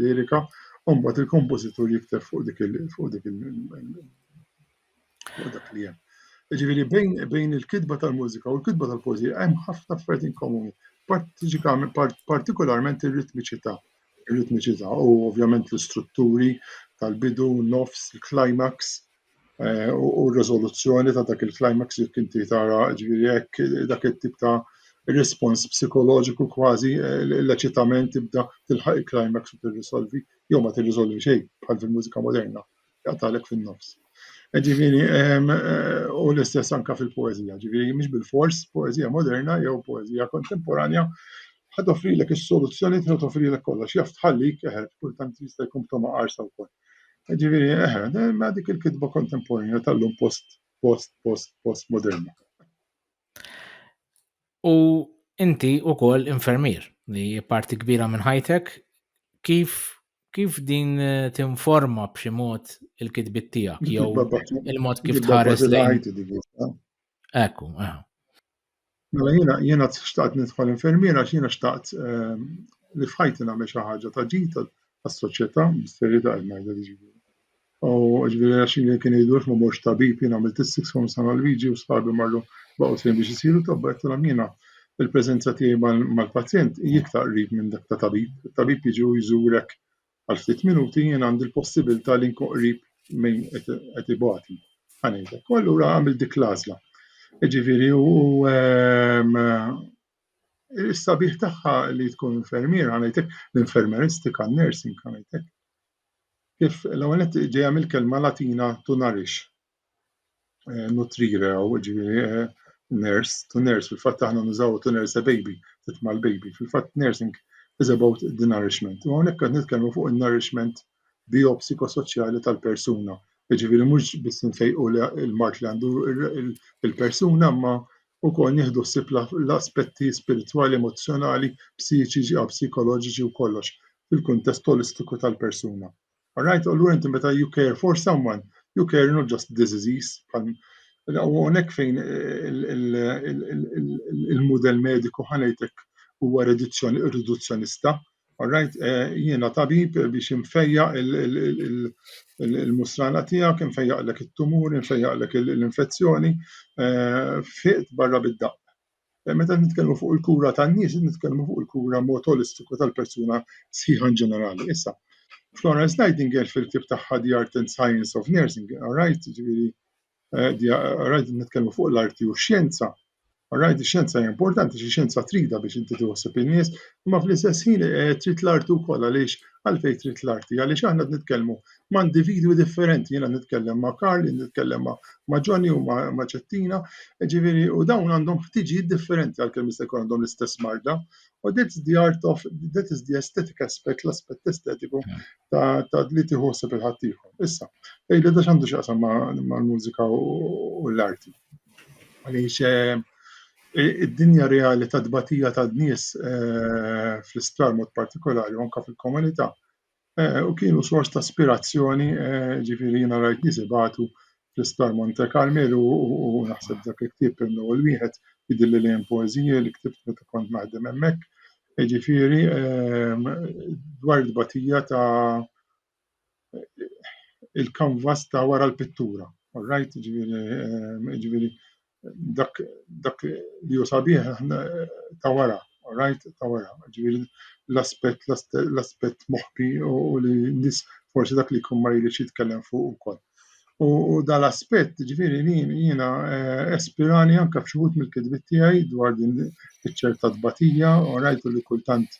lirika u mbagħad il-kompożitur jikteb fuq dik il fuq dik il dak li hemm. Ġifieri bejn bejn il-kitba tal-mużika u l-kitba tal-poeżija hemm ħafna affarijiet inkomuni, partikolarment ir-ritmiċità. Ir-ritmiċità u ovvjament l-istrutturi tal-bidu, nofs, il-climax eh, u r-riżoluzzjoni ta' dak il-climax jekk inti tara ġifieri hekk dak it-tip ta' rispons psikoloġiku kważi eh, l-eċitament tibda tilħaq il-climax u tirrisolvi jew ma tirrisolvi xejn bħal fil-mużika moderna. Għatalek fin-nofs. E ġifieri, e, u l-istess anka fil-poezija, ġifieri mhix bil-fors poezija moderna jew poezija kontemporanja ħad offrilek is-soluzzjoni tiegħu toffrilek kollox, jaf tħallik eħed, kultant jista' jkun toma qarsa wkoll. E ġifieri, eħed, e, ma dik il-kitba kontemporanja tal-lum post post post post moderna. U inti wkoll infermier li parti kbira minn ħajtek kif kif din eh, tinforma b'xi mod il-kitbit tiegħek jew il-mod kif tħares lejn. Ekku, eh. Mela jiena jiena xtaqt nidħol infermiera għax jiena xtaqt eh, li f'ħajti nagħmel xi ħaġa ta' ġid għas-soċjetà, bis-serjetà qed ngħidlek jiġifieri. U ġifieri għax jien kien jgħidulx ma morx tabib, jien għamilt is-six form sena l-liġi u sħabi marru baqgħu sejn biex isiru tobba qed tilhom jiena il-preżenza tiegħi mal-pazjent hi iktar qrib minn dak ta' tabib. Tabib jiġi u jżurek għal ftit minuti jien għandi l-possibilità li nkun qrib minn qed ibati. Ħanejtek. U allura għamil dik l-għażla. Ġifieri u ehm, Is-sabiħ tagħha li tkun infermier għanajtek, l-infermeristika, nursing għanajtek. Kif l-ewwel ġejja mill-kelma Latina to nourish, eh, nutrire u ġifieri eh, nurse to nurse, fil-fatt aħna nużaw to nurse a baby, titma' l-baby, fil-fatt nursing is about the nourishment. U hawnhekk qed nitkellmu fuq in-nourishment bijopsikosoċjali tal-persuna. Jiġifieri mhux biss infejqu l-mard li għandu l-persuna imma wkoll nieħdu ħsieb l-aspetti spiritwali, emozzjonali, psiċiċi, psikoloġiċi u kollox fil-kuntest olistiku tal-persuna. Alright, allura inti meta you care for someone, you care not just this disease, u għonek fejn il-model mediku ħanajtek huwa riduzzjonista, Alright, eh, jiena tabib biex infejja il-musrana tiegħek, infejjaqlek it-tumur, infejjaqlek l-infezzjoni, eh, fiqt barra bid-daqq. Eh, meta nitkellmu fuq il-kura tan-nies, nitkellmu fuq il-kura mod olistiku tal-persuna sħiħa ġenerali. Issa, Florence Nightingale fil-ktieb tagħha The Art and Science of Nursing, alright, ġifieri Rajt nitkellmu fuq l-arti u x-xjenza. Rajt ix-xjenza hija importanti, xi xjenza trida biex inti tiħossib in-nies, imma fl-istess ħin eh, trid l-arti wkoll għaliex għalfejn trid l-arti, għaliex aħna nitkellmu ma' individwi differenti, jiena nitkellem ma' Karl, nitkellem ma' Johnny u ma' Ċettina, ġifieri u dawn għandhom ħtiġijiet differenti għalkemm jista' jkun għandhom l-istess marda. U that's the art of that is the aesthetic aspect, l-aspett estetiku ta' li tieħu ħsieb il-ħaddieħor. Issa, ejli da x'għandu x'jaqsam mal-mużika u l-arti. Għaliex eh, id-dinja reali ta' tbatija ta' nies eh, fl-isptar mod partikolari anka fil-komunità eh, u kienu sors ta' aspirazzjoni ġifieri jiena rajt nies ibatu fl-Isptar Monte Carmel u naħseb dak il-ktieb hemm l-ewwel wieħed jidhirli li hemm poeżiji li ktibt meta kont naħdem hemmhekk. Jiġifieri ehm, dwar il-tbatija ta' il-kanvas ta' wara l-pittura. All right, jiġifieri, ehm, jiġifieri dak dak li hu sabiħ ta' wara, rajt ta' wara, ġifieri l-aspett l-aspett moħbi u li nis forsi dak li jkun ma jridx jitkellem fuq ukoll. U, u dal-aspett ġifieri jiena eh, espirani anke f'xi wħud mill-kitbiet tiegħi dwar din iċ-ċerta tbatija u rajtu li kultant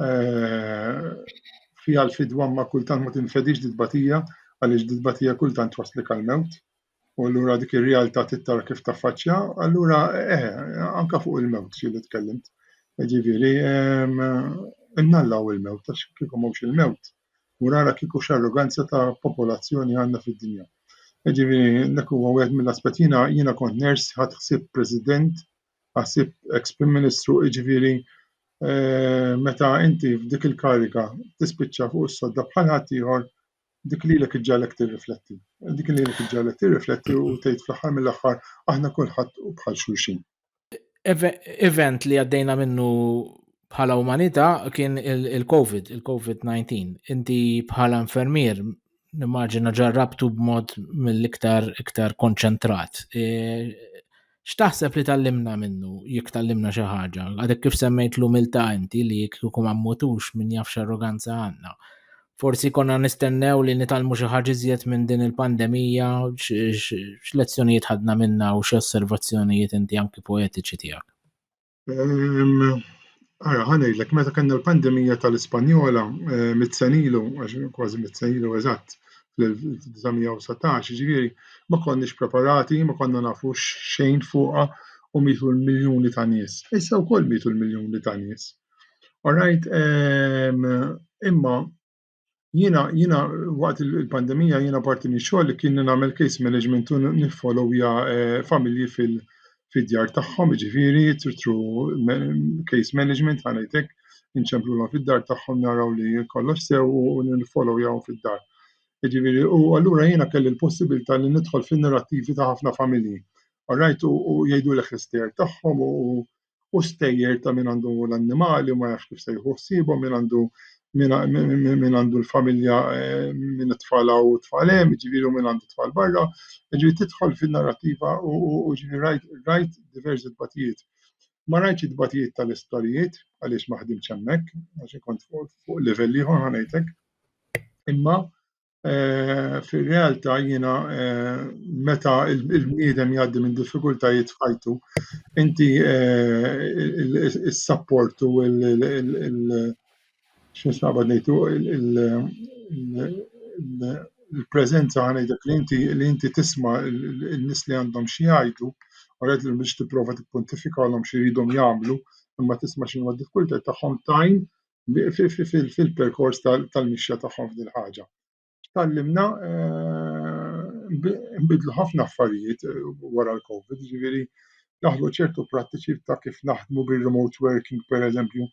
eh, fiha l-fidwa ma kultant ma tinfedix di tbatija għaliex di tbatija kultant waslik għal-mewt U allura dik ir-realtà tittara kif taffaċċja, allura eh, anka fuq il-mewt xi li tkellimt. Ġifieri, innallaw il-mewt, għax kieku mhux il-mewt, u rara kieku x'arroganza ta' popolazzjoni għandna fid-dinja. Ġifieri, dak huwa wieħed mill-aspett jiena jiena kont ners ħadd ħsieb President, ħasib ex Prim Ministru, ġifieri eh, meta inti f'dik il-kariga tispiċċa fuq is-sodda bħal ħadd ieħor Dik lilek iġġagħlek tirrifletti. Dik lilek iġġagħlek tirrifletti u tgħid fl-aħħar mill-aħħar aħna kulħadd u bħal xulxin. Event li għaddejna minnu bħala umanità kien il-COVID, il-COVID-19. Inti bħala infermier nimmaġina ġarrabtu b'mod mill-iktar iktar konċentrat. E, X'taħseb li tgħallimna minnu, jekk tgħallimna xi ħaġa? Għadek kif semmejt l-umiltà inti li jekk kieku ma mmutux min jaf x'arroganza għandna. Forsi konna nistennew li nitgħallmu xi ħaġa iżjed minn din il-pandemija, x'lezzjonijiet ħadna minnha u x'osservazzjonijiet inti anki poetiċi tiegħek? Ara, ħa ngħidlek, meta kellna l-pandemija tal-Ispanjola mitt sen ilu, kważi mitt sen ilu eżatt, fl-1919, ġifieri ma konniex preparati, ma konna nafu xejn fuqha u mietu l-miljuni ta' nies. Issa wkoll mietu l-miljuni ta' nies. Orajt, imma Jiena jiena waqt il-pandemija jiena parti minn xogħol li kien nagħmel case management u niffollowja eh, familji fil fid-djar tagħhom, ġifieri tru case management ħanajtek inċemplulhom fid-dar tagħhom naraw li kollox sew u niffollowjaw fid-dar. Ġifieri u allura jiena kelli l-possibilità li nidħol fin-narrattivi ta' ħafna familji. Alright u jgħidulek l-istejer tagħhom u u stejjer ta' min għandu l-annimali u ma jafx kif se jieħu ħsiebhom, min għandu min għandu l-familja eh, min it-tfal u t-tfal hemm, ġifieri min għandu t-tfal barra, ġifieri tidħol fin-narrativa u ġifieri rajt diversi tbatijiet. Ma rajtx it-tbatijiet tal-isptarijiet għaliex ma ħdimx hemmhekk, għax kont fuq livell ieħor ħanejtek. Imma Eh, Fir-realtà jiena eh, meta il-bniedem jgħaddi minn diffikultajiet f'ħajtu, inti eh, is-sapport u x'nisnaqbad ngħidu il-preżenza ħanejtek li inti li inti tisma' n-nies li għandhom xi jgħidu, oret li biex tipprova tippuntifikalhom xi jridhom jagħmlu, imma tisma' x'inhu d-diffikultajiet tagħhom tajn fil-perkors tal-mixja tagħhom f'dil ħaġa. Tallimna eh, nbidlu ħafna affarijiet eh, wara l-COVID, ġifieri daħlu ċertu prattiċi ta' kif naħdmu bil-remote working, per eżempju,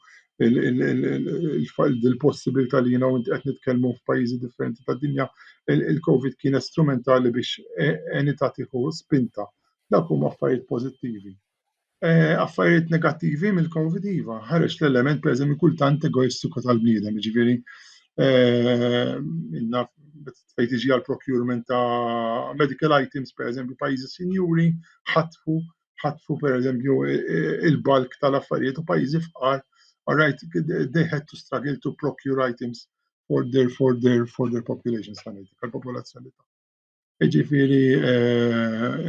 il-possibilità li jina għint qed nitkellmu f'pajjiżi differenti ta' dinja, il-COVID kien strumentali biex eh, enita tiħu spinta. Dak huma affarijiet pożittivi. eh, affarijiet negattivi mill-Covid iva, ħareġ l-element pereżempju kultant egoistiku tal-bniedem, ġifieri eh, inna fejn tiġi għal procurement ta' medical items pereżempju pajjiżi sinjuri ħatfu ħatfu pereżempju il-balk tal-affarijiet u pajjiżi fqar all right, they had to struggle to procure items for their for their for their population sanity, tal-popolazzjoni ta' Jiġifieri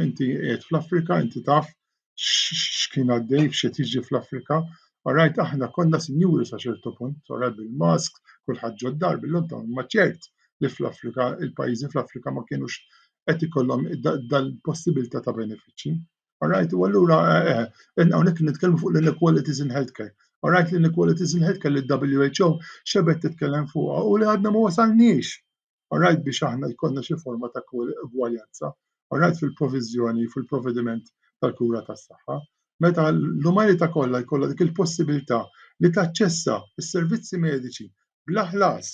inti qiegħed fl-Afrika, inti taf x'kien għaddej, x'qed jiġri fl-Afrika. Orajt, aħna konna sinjuri sa ċertu punt, orajt bil-mask, kulħadd ġod dar bil-lum ta' ma ċert li fl-Afrika, il-pajjiżi fl-Afrika ma kienux qed ikollhom dal-possibilità ta' benefiċċji. Orajt, u allura eh, eh, hawnhekk nitkellmu fuq l-inequalities in healthcare. Orajt l-inequalities in healthcare li WHO xebet titkellem fuqha u li għadna ma wasalniex All right biex aħna jkollna xi forma ta' ugwaljanza. All right fil-proviżjoni, fil-provvediment tal-kura tas-saħħa. Meta l-umanità kollha jkollha dik il-possibilità li taċċessa s-servizzi mediċi bla ħlas.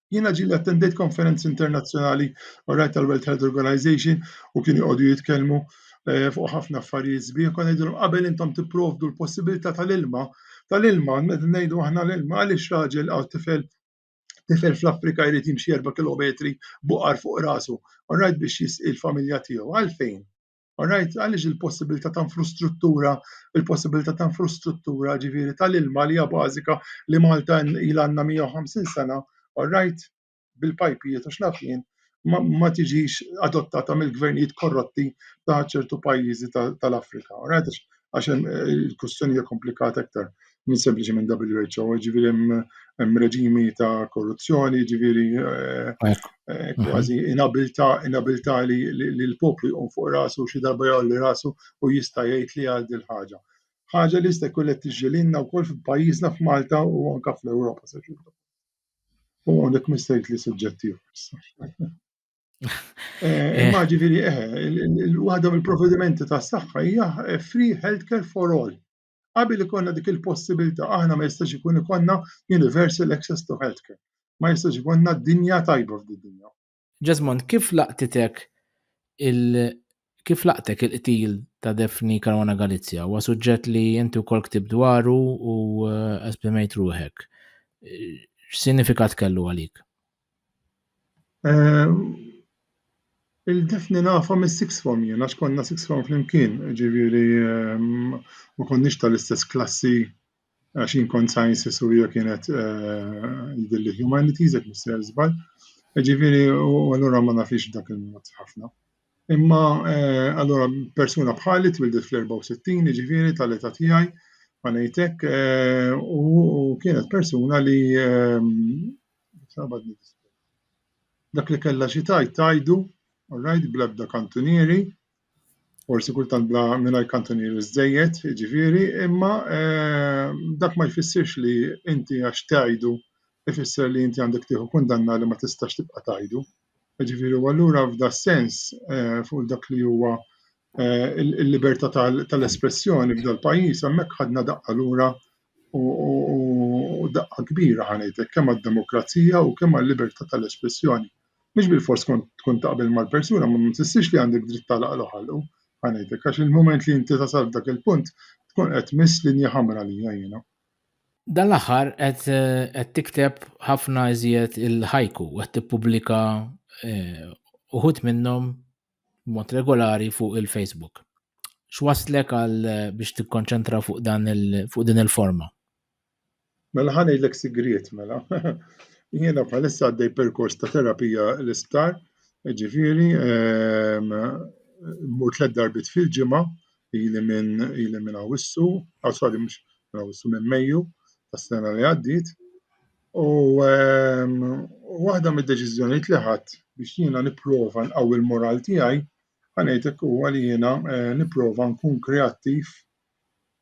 Jiena ġieli attendejt konferenzi internazzjonali all right tal-World Health Organization u kienu jqogħdu jitkellmu Eh, fuq ħafna affarijiet sbieħ, kon ngħidulhom qabel intom tipprovdu l-possibilità tal-ilma, tal-ilma, ngħidu aħna l-ilma għaliex raġel għal tifel Tifel fl-Afrika jrid jimxi erba' kilometri b'oqar fuq rasu, alright, biex jisqi l-familja tiegħu. Għalfejn? Alright, għaliex il-possibilità ta' infrastruttura, il-possibilità ta' infrastruttura ġifieri tal-ilma li hija bażika li Malta ilha għandna 150 sena, alright, bil-pajpijiet u x'naf jien, ma tiġix adottata mill-gvernijiet korrotti ta' ċertu pajjiżi tal-Afrika. Għax hemm eh, il-kustjoni hija komplikata aktar minn sempliċement WHO, ġifieri hemm reġimi ta' korruzzjoni, ġifieri eh, eh, mhm. kważi inabilità inabilità li l-poplu jqum fuq rasu xi darba jgħolli rasu u jista' jgħid li għal din ħaġa. Ħaġa li jista' jkun qed tiġġielilna wkoll f'pajjiżna f'Malta u anke fl-Ewropa se U għonek ma jistajt li suġġetti issa. Eh, imma ġifiri, eh, il-wahda mill-provvedimenti ta' saħħa hija eh, free healthcare for all. Qabel ikonna dik il-possibilità, aħna ma jistax ikun ikonna universal access to healthcare. Ma jistax ikonna dinja tajba f'din dinja. Jesmond, kif laqtitek il kif laqtek il-qtil ta' Defni Karwana Galizja? Huwa suġġett li inti wkoll ktib dwaru u eh, esprimejt ruħek. X'sinifikat kellu għalik? Eh, Il-defni nafa mis six form jien, għax konna six form flimkien, ġiviri ehm, ma konniex tal-istess klassi għax jien kont sciences u hija kienet jidilli humanities jekk mister żball. Ġifieri u allura ma nafix dak il-mod ħafna. Imma allura persuna bħali twildet fl-64 ġifieri tal-età tiegħi ma ngħidlek u kienet persuna li dak li kellha xi tajt tajdu, all right, bl-ebda kantunieri, forsi kultant bla mingħajr kantunieri żżejjed, jiġifieri, imma eh, dak ma jfissirx li inti għax tgħidu ifisser li inti għandek tieħu kundanna li ma tistax tibqa' tgħidu. Jiġifieri u allura f'da sens eh, fuq dak li huwa eh, il-libertà tal-espressjoni f'dal pajjiż hemmhekk ħadna daqqa lura u daqqa kbira ħanejtek kemm għad-demokrazija u kemm għal libertà tal-espressjoni. Mhux bilfors tkun taqbel mal-persuna, imma ma tfissirx li għandek dritt tagħlaqlu ħalqu, ħa ngħidlek, għax il-mument li inti tasal f'dak il-punt tkun qed tmiss linja ħamra għalija jiena. Dan l-aħħar qed qed tikteb ħafna iżjed il-ħajku, qed tippubblika eh, uħud minnhom mod regolari fuq il-Facebook. X'waslek għal biex tikkonċentra fuq dan fuq din il-forma? Mela ħan ngħidlek sigriet mela. Jiena bħalissa għaddej perkors ta' terapija l-isptar, ġifieri ehm, mur tliet darbit fil-ġimgħa ili minn ili minn Awissu, għasali ah, mhux minn Awissu minn Mejju tas-sena li għaddiet. U waħda mid-deċiżjonijiet li ħadd biex jiena nipprova nqawwi l-moral tiegħi ħanejtek huwa li jiena eh, nipprova nkun kreattiv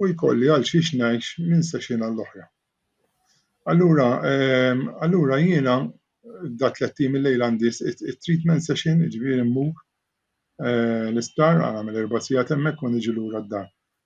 u jkolli għal xiex ngħix minn session għall-oħra. Allura, ehm, allura jiena da tliet tim il-lejl għandi treatment session, ġifieri mmur eh, l-isptar għamel erba' sigħat hemmhekk u niġi lura d-dar.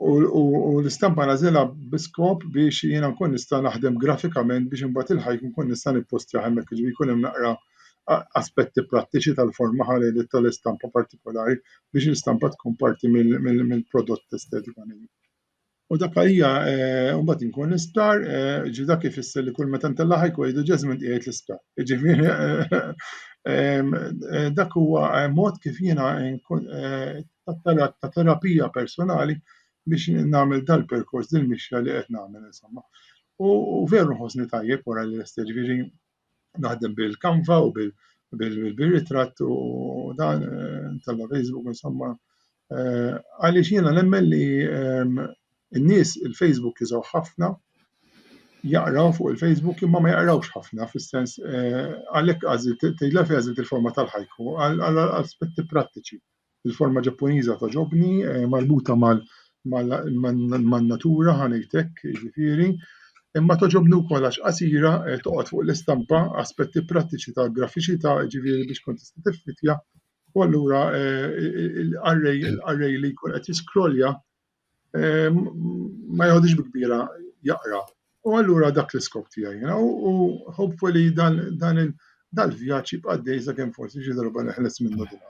u l-istampa nagħżilha bi skop biex jiena nkun nista' naħdem grafikament biex imbagħad il-hike inkun nista' nippostjah hemmhekk, jiġifieri jkun hemm naqra aspetti prattiċi tal-forma ħalejliet tal-istampa partikolari biex l-istampa tkun parti mill-prodott estetikament. U dak hija mbagħad inkun l-isptar, ġi dak ifisser li kull meta ntella' hike u jgħidu Jasmine qiegħed l-isptar. Jiġifieri dak huwa mod kif jiena tat-talab ta' terapija personali biex nagħmel dal-perkors din mixja li qed nagħmel insomma. U, u veru nħossni tajjeb wara li lest ġifieri naħdem bil-kanva u bil bil-ritratt u dan eh, tal Facebook insomma eh, għaliex jiena nemmen li ehm, n-nies il-Facebook jizaw ħafna jaqraw fuq il-Facebook imma ma jaqrawx ħafna fis-sens eh, għalhekk għażilt tejla fi għażilt il-forma tal-ħajku għal aspetti prattiċi. Il-forma Ġappuniża togħġobni, marbuta man-natura ħa ngħid hekk, jiġifieri, imma togħġobni wkoll għax qasira toqgħod fuq l-istampa, aspetti prattiċi ta' grafiċità, jiġifieri biex tkun tista' tiffittja u allura l-qarrej li jkun qed jiskrollja ma jgħodix bi kbira jaqra. U allura dak l-iskop tiegħi jiena u hopefully dan dan dal-vjaġġ jibqa' dej sakemm forsi xi darba neħles minnu din.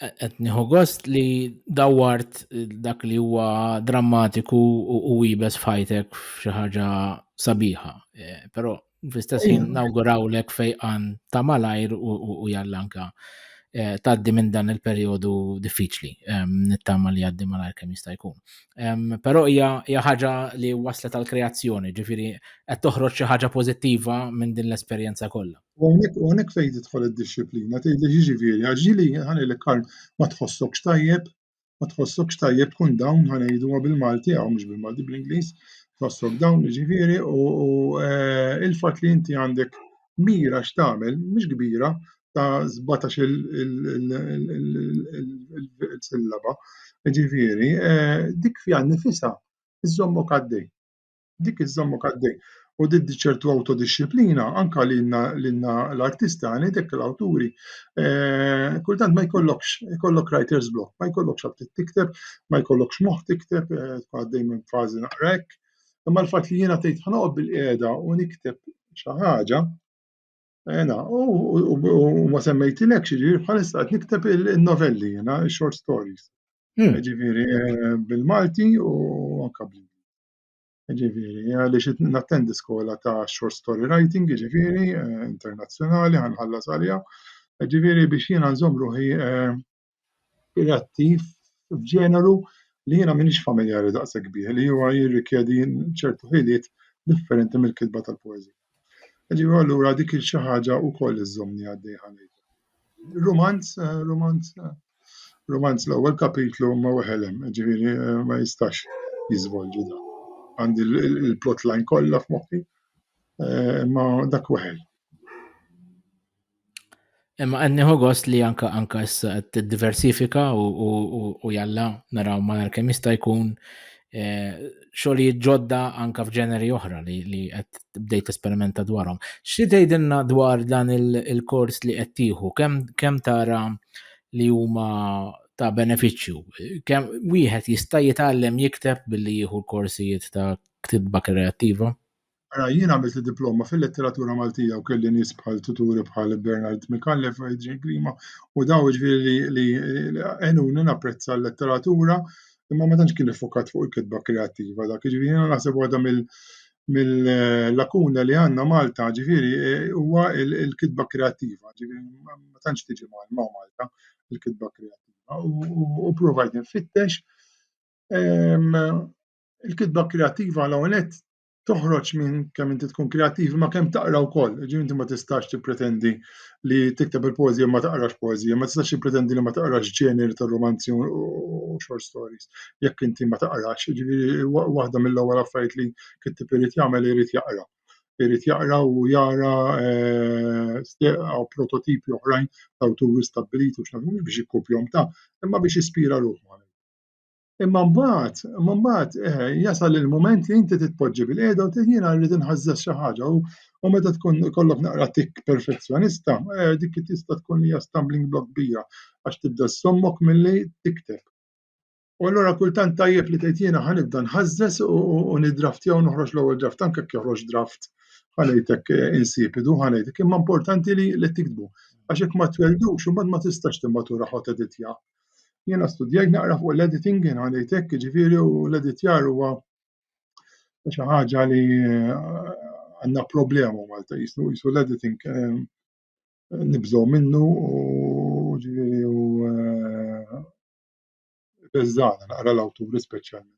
Qed nieħu gost li dawwart dak li huwa drammatiku u ibes f'ħajtek f'xi ħaġa sabiħa. Eh, però Fl-istess ħin nawgurawlek fejqan ta' malajr u jallanka eh, taddi minn dan il-perjodu diffiċli nittama li għaddi malajr kemm jista' jkun. Però hija ħaġa li waslet għal kreazzjoni ġifieri qed toħroġ xi ħaġa pożittiva minn din l-esperjenza kollha. U hawnhekk fejn tidħol id-disciplina tgħidli jiġifieri għax ġili ħanilek ma tħossokx tajjeb ma tħossokx tajjeb tkun dawn ħa ngħiduha bil-Malti hawn mhux bil-Malti bl-Ingliż, tħossok dawn jiġifieri u eh, il-fatt li inti għandek mira x'tagħmel mhux kbira ta' 17 il-sillaba, jiġifieri eh, dik fiha nnifisha iżommok għaddej. dik iż-żamma kaddej. U diddi ċertu autodisciplina, anka l-inna l-artista, għani dek l-awturi, eh, kultant ma jkollokx, jkollok writer's block, ma jkollokx għab tikteb, ma jkollokx moħ tikteb, eh, għaddej minn fazi naqrek, imma l-fat li jena tejt ħanoqob bil-qeda u nikteb xaħġa, Ena, u ma semmejtilek xieġi, bħalissa għat nikteb il-novelli, jena, short stories. Hmm. Ġifiri, eh, bil-Malti u anka bil Ġifieri, għaliex nattendi skola ta' short story writing, ġifieri, eh, internazzjonali, ħanħallas għalija. Ġifieri biex jiena nżomm ruħi eh, reattiv f'ġeneru li jiena minix familjari daqshekk bih, li huwa jirrikjedi ċertu ħiliet differenti mill-kitba tal-poeżija. Ġiru allura dik il-xi ħaġa u koll iżżomni għaddej ħanejt. Romanz, eh, romanz, eh, romanz l-ewwel kapitlu ma weħelem, ġifieri eh, ma jistax jiżvolġi da. Għandi l-plotline kollha f'moħħi, ma dak weħel. Imma qed nieħu gost li anka anka issa qed tiddiversifika u jalla naraw malar kemm jista' jkun eh, xogħlijiet ġodda anka f'ġeneri oħra li qed bdejt esperimenta dwarhom. Xi tgħidilna dwar dan il-kors li qed tieħu kemm tara li huma ta' benefiċċju. Kemm wieħed jista' jitgħallem jikteb billi jieħu l-korsijiet ta' ktibba kreattiva? Ara, jien għamilt diploma fil-letteratura Maltija u kelli nies bħal tuturi bħal Bernard Mikallef, Adrian Grima, u daw ġviri li għenuni napprezza l-letteratura, imma ma tantx kien iffokat fuq il-kitba kreattiva dak, ġviri jien naħseb waħda mill-lakuna li għanna Malta, ġviri huwa il-kitba kreattiva, ġviri ma tantx tiġi ma' Malta il-kitba kreattiva. U provajt nfittex, ehm, il-kitba kreattiva l-għonet toħroġ minn kemm inti tkun kreattiv ma kemm taqra wkoll. Ġifieri inti ma tistax tippretendi li tikteb il-poeżija ma taqrax poeżija, ma tistax tippretendi li ma taqrax ġeneri ta' romanzi u short stories jekk inti ma taqrax. Ġifieri waħda mill-ewwel affarijiet li kittib irid jagħmel irid jaqra. Irid jaqra u jara eh, steqaw prototipi oħrajn ta' awturi stabbiliti u x'nafhom biex jikkupjom ta' imma biex jispira ruħu. Imma mbagħad, imma mbagħad eh, jasal il-mument li inti titpoġġi bil-qiegħda u tgħid jiena rrid inħażżeż xi ħaġa u meta tkun kollok naqra tik perfezzjonista, eh, dik tista' tkun hija stumbling block kbira għax tibda sommok milli tikteb. U allura kultant tajjeb li tgħid jiena ħanibda nħażżeż u niddraftjaw noħroġ l-ewwel draft anke jekk joħroġ draft ħanejtek eh, insipidu ħanejtek imma importanti li tiktbu għax jekk ma tweldux imbagħad ma tistax timmatura ħod editja. Jiena studjajt naqra fuq l-editing, jiena għalejt hekk, jiġifieri u l-editjar huwa xi ħaġa li eh, għandna problema Malta jisu jisu l-editing eh, nibżgħu minnu u ġifieri u eh, beżżana naqra l-awturi speċjalment.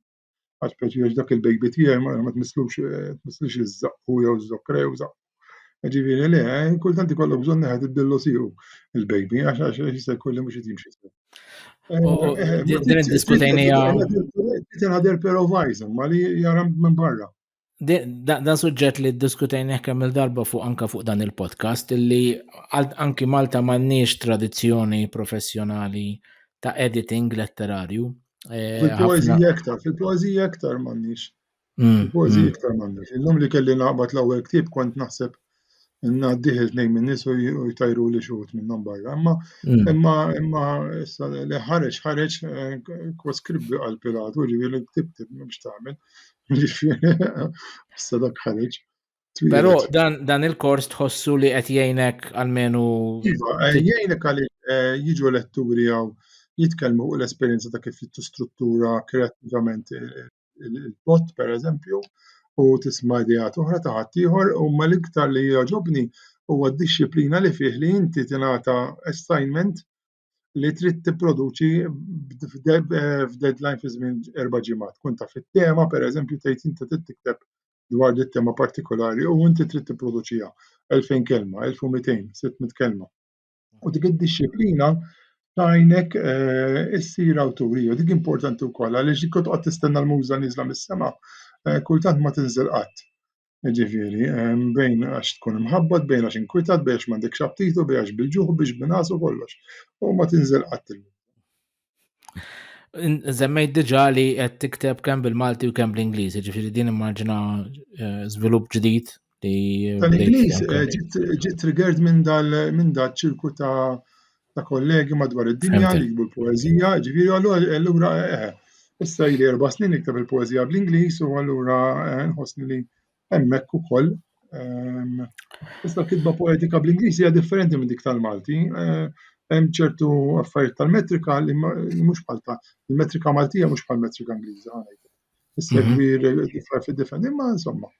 Għax pereżempju għax dak il-baby tiegħi ma tmisslux tmisslix iż-żaqqu jew żokra jew żaqq. Ġifieri le, kultant ikollok bżonn neħed id-dillu tiegħu il-baby għax għax jista' jkun li mhux qed jimxi sew. Din iddiskutejnija. Tinħader però vajża ma li jara minn barra. Dan suġġett li diskutejn kemm il-darba fuq anka fuq dan il-podcast li anki Malta m'għandniex tradizzjoni professjonali ta' editing letterarju. Eh, fil-poezija aktar, fil-poezija aktar m'għandniex. Mm, fil-poezija mm. aktar m'għandniex. Illum li kelli naqbad l-ewwel ktieb kont naħseb ngħaddih il-tnejn minn nies u jtajru li xuħut minnhom barra. Imma mm. imma imma issa li ħareġ ħareġ eh, kwas kribbi għal Pilatu ġifieri tiktib biex tagħmel. Issa dak ħareġ. Però dan, dan il-kors tħossu li qed jgħinek għalmenu. Iva, eh, jgħinek għal eh, jiġu letturi għaw jitkellmu u l-esperjenza ta' kif jittu struttura kreativament il-bot pereżempju u tisma' ideat oħra ta' ħaddieħor imma l-iktar li jogħġobni huwa d-dixxiplina li fih li inti tingħata assignment li trid tipproduċi f'deadline fi żmien erba' ġimgħat. Tkun taf it-tema pereżempju tgħid inti trid tikteb dwar din it-tema partikolari u inti trid tipproduċiha 2000 kelma, 1200, 600 kelma. U dik id-disciplina tajnek eh, issir awturija. Dik importanti wkoll għaliex dik toqgħod tistenna l-muża niżla mis-sema, eh, kultant ma tinżel qatt. Ġifieri, eh, bejn għax tkun imħabbat, bejn għax inkwitat, bejn għax m'għandekx aptitu, bejn għax bil-ġuħ, biex binasu kollox. U ma tinżel qatt il Zemmejt diġa li qed tikteb kemm bil-Malti u kemm bl-Ingliż, ġifieri din immaġina eh, żvilupp ġdid li. Tal-Ingliż eh, ġiet triggered minn dal minn dal ċirku ta' ta' kollegi madwar id-dinja li jikbu l-poeżija, ġifieri allura eh, issa jli erba' snin nikteb il-poeżija bl-Ingliż u allura nħossni li hemmhekk ukoll. Ehm, iżda kitba poetika bl-Ingliż hija differenti minn dik tal-Malti. Eh, hemm ċertu affarijiet tal-metrika li mhux bħal ta' il-metrika Maltija mhux bħal metrika Ingliża ħanejt. Issegwi mhm. differ fi differ, imma insomma,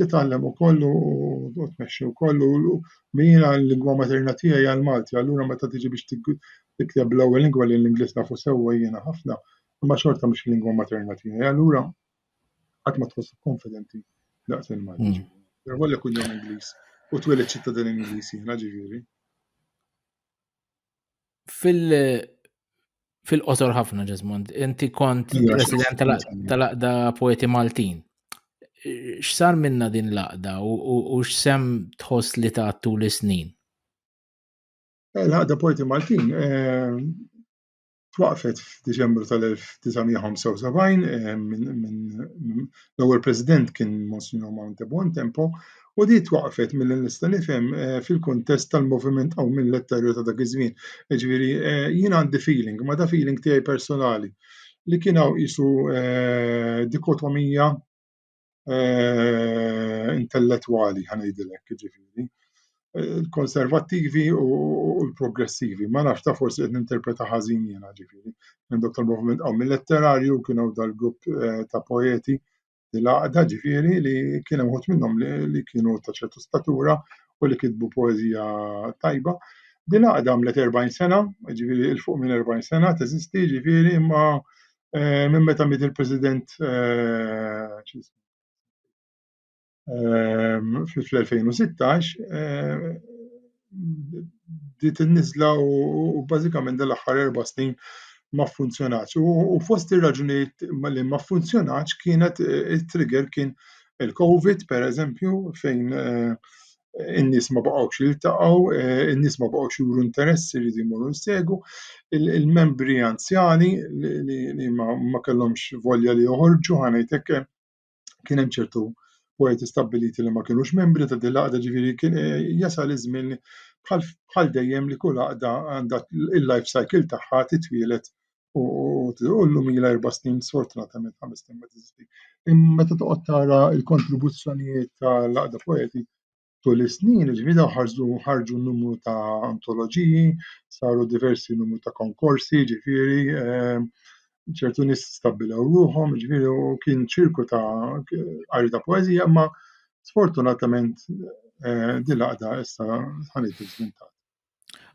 titgħallem ukoll u tmexxi wkoll u mina l-lingwa materna tiegħi għal Malti, allura meta tiġi biex tikteb l-ewwel lingwa li l-Ingliż nafu sewwa jiena ħafna, imma xorta mhux lingwa materna tiegħi. Allura Qatt ma tħossok konfidenti daqs il-Malti. Mm. Għallek kun jom Ingliż u twelid ċittadin Ingliż jiena ġifieri. Fil fil-qosor ħafna Ġesmond, inti kont president tal-aqda poeti Maltin. X'sar minna din l-aqda u x'sem tħoss li ta' tul is-snin? Eh, l-aqda poeti Maltin eh, twaqqfet f'Diċembru tal-1975 eh, minn l-ewwel President kien Monsignor Monte Buontempo u di twaqqfet mill nista' nifhem eh, fil-kuntest tal-moviment aw minn letterju ta' dak iż-żmien. Ġifieri eh, jien għandi feeling, ma da feeling tiegħi personali li kien hawn qisu dikotomija eh, intellettwali ħanejdilek jiġifieri. Il-konservattivi u l-progressivi, ma nafx ta' forsi qed ninterpreta ħażin jiena ġifieri. Minn dok tal-moviment qawmi letterarju kien hawn dal-grupp eh, ta' poeti li laqda ġifieri li kien hemm wħud minnhom li kienu ta' ċertu statura u li kitbu poeżija tajba. Din għadha għamlet 40 sena, ġifiri il-fuq minn 40 sena, teżisti ġifiri imma eh, minn meta miet il-President eh, eh, fl-2016 dit in-niżla u bażikament dal-aħħar erba' snin ma funzjonax. U fost ir-raġunijiet li ma funzjonax kienet it-trigger kien il-COVID, per eżempju, fejn in-nies ma baqgħux jiltaqgħu, in-nies ma baqgħux juru interess iridu jmorru jsegu, il-membri anzjani li ma kellhomx volja li joħorġu ħanejt hekk kien hemm ċertu poeti stabbiliti li ma kienux membri ta' din l-għaqda ġifieri kien jasal iż-żmien bħal dejjem li kull għaqda għandha il-life cycle tagħha titwielet u llum ilha erba' snin, sfortunatament ħames snin ma teżistix. Imma meta toqgħod tara l-kontribuzzjonijiet tal-Għaqda Poeti tul is-snin, ġifieri dawn ħarġu ħarġu numru ta' antoloġiji, saru diversi numru ta' konkorsi, ġifieri ehm, ċertu nies stabbilew ruħhom, ġifieri u kien ċirku ta' qari ta' poeżija, imma sfortunatament eh, din l-għaqda issa ħanejt iżvintat.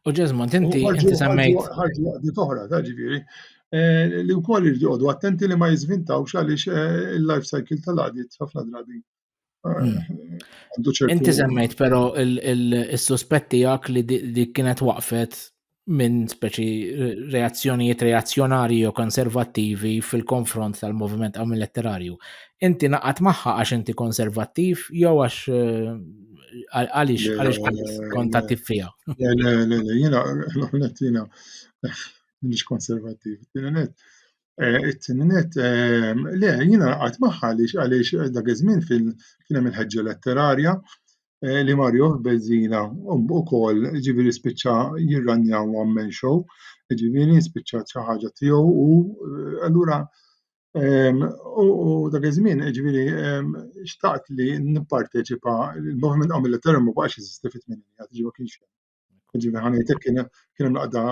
U ġezmont, inti inti semmejt. Ħarġu għaddi toħra, ta' ġifiri. Eh, li u koll irdi għodu attenti li ma jizvintaw xalix eh, il-life cycle tal-għadit ħafna drabi. Eh, hmm. Inti semmejt pero il-suspetti għak li di kienet waqfet minn speċi reazzjonijiet reazzjonari u konservattivi fil-konfront tal-moviment għamil letterarju. Inti naqat maħħa għax inti konservattiv jew għax Għalix, għalix kontattiv fija. Le, le, le, le, jina, l-għonet jina, minix konservativ. Tinenet, eh, tinenet, eh, le, jina għat maħħa għalix, għalix eh, dak iż-żmien fil-kien hemm il-ħeġġa letterarja li Mario Bezzina u kol ġiviri spiċċa jirranja one man show, ġiviri spiċċa ċaħġa tiegħu u allura U dak iż-żmien, ġifieri, xtaqt li nipparteċipa, il-moviment għamil li termu ma baqax jeżisti fit-tmeninija, ġifieri ma kienx hemm. Ġifieri ħanejtek kien hemm laqda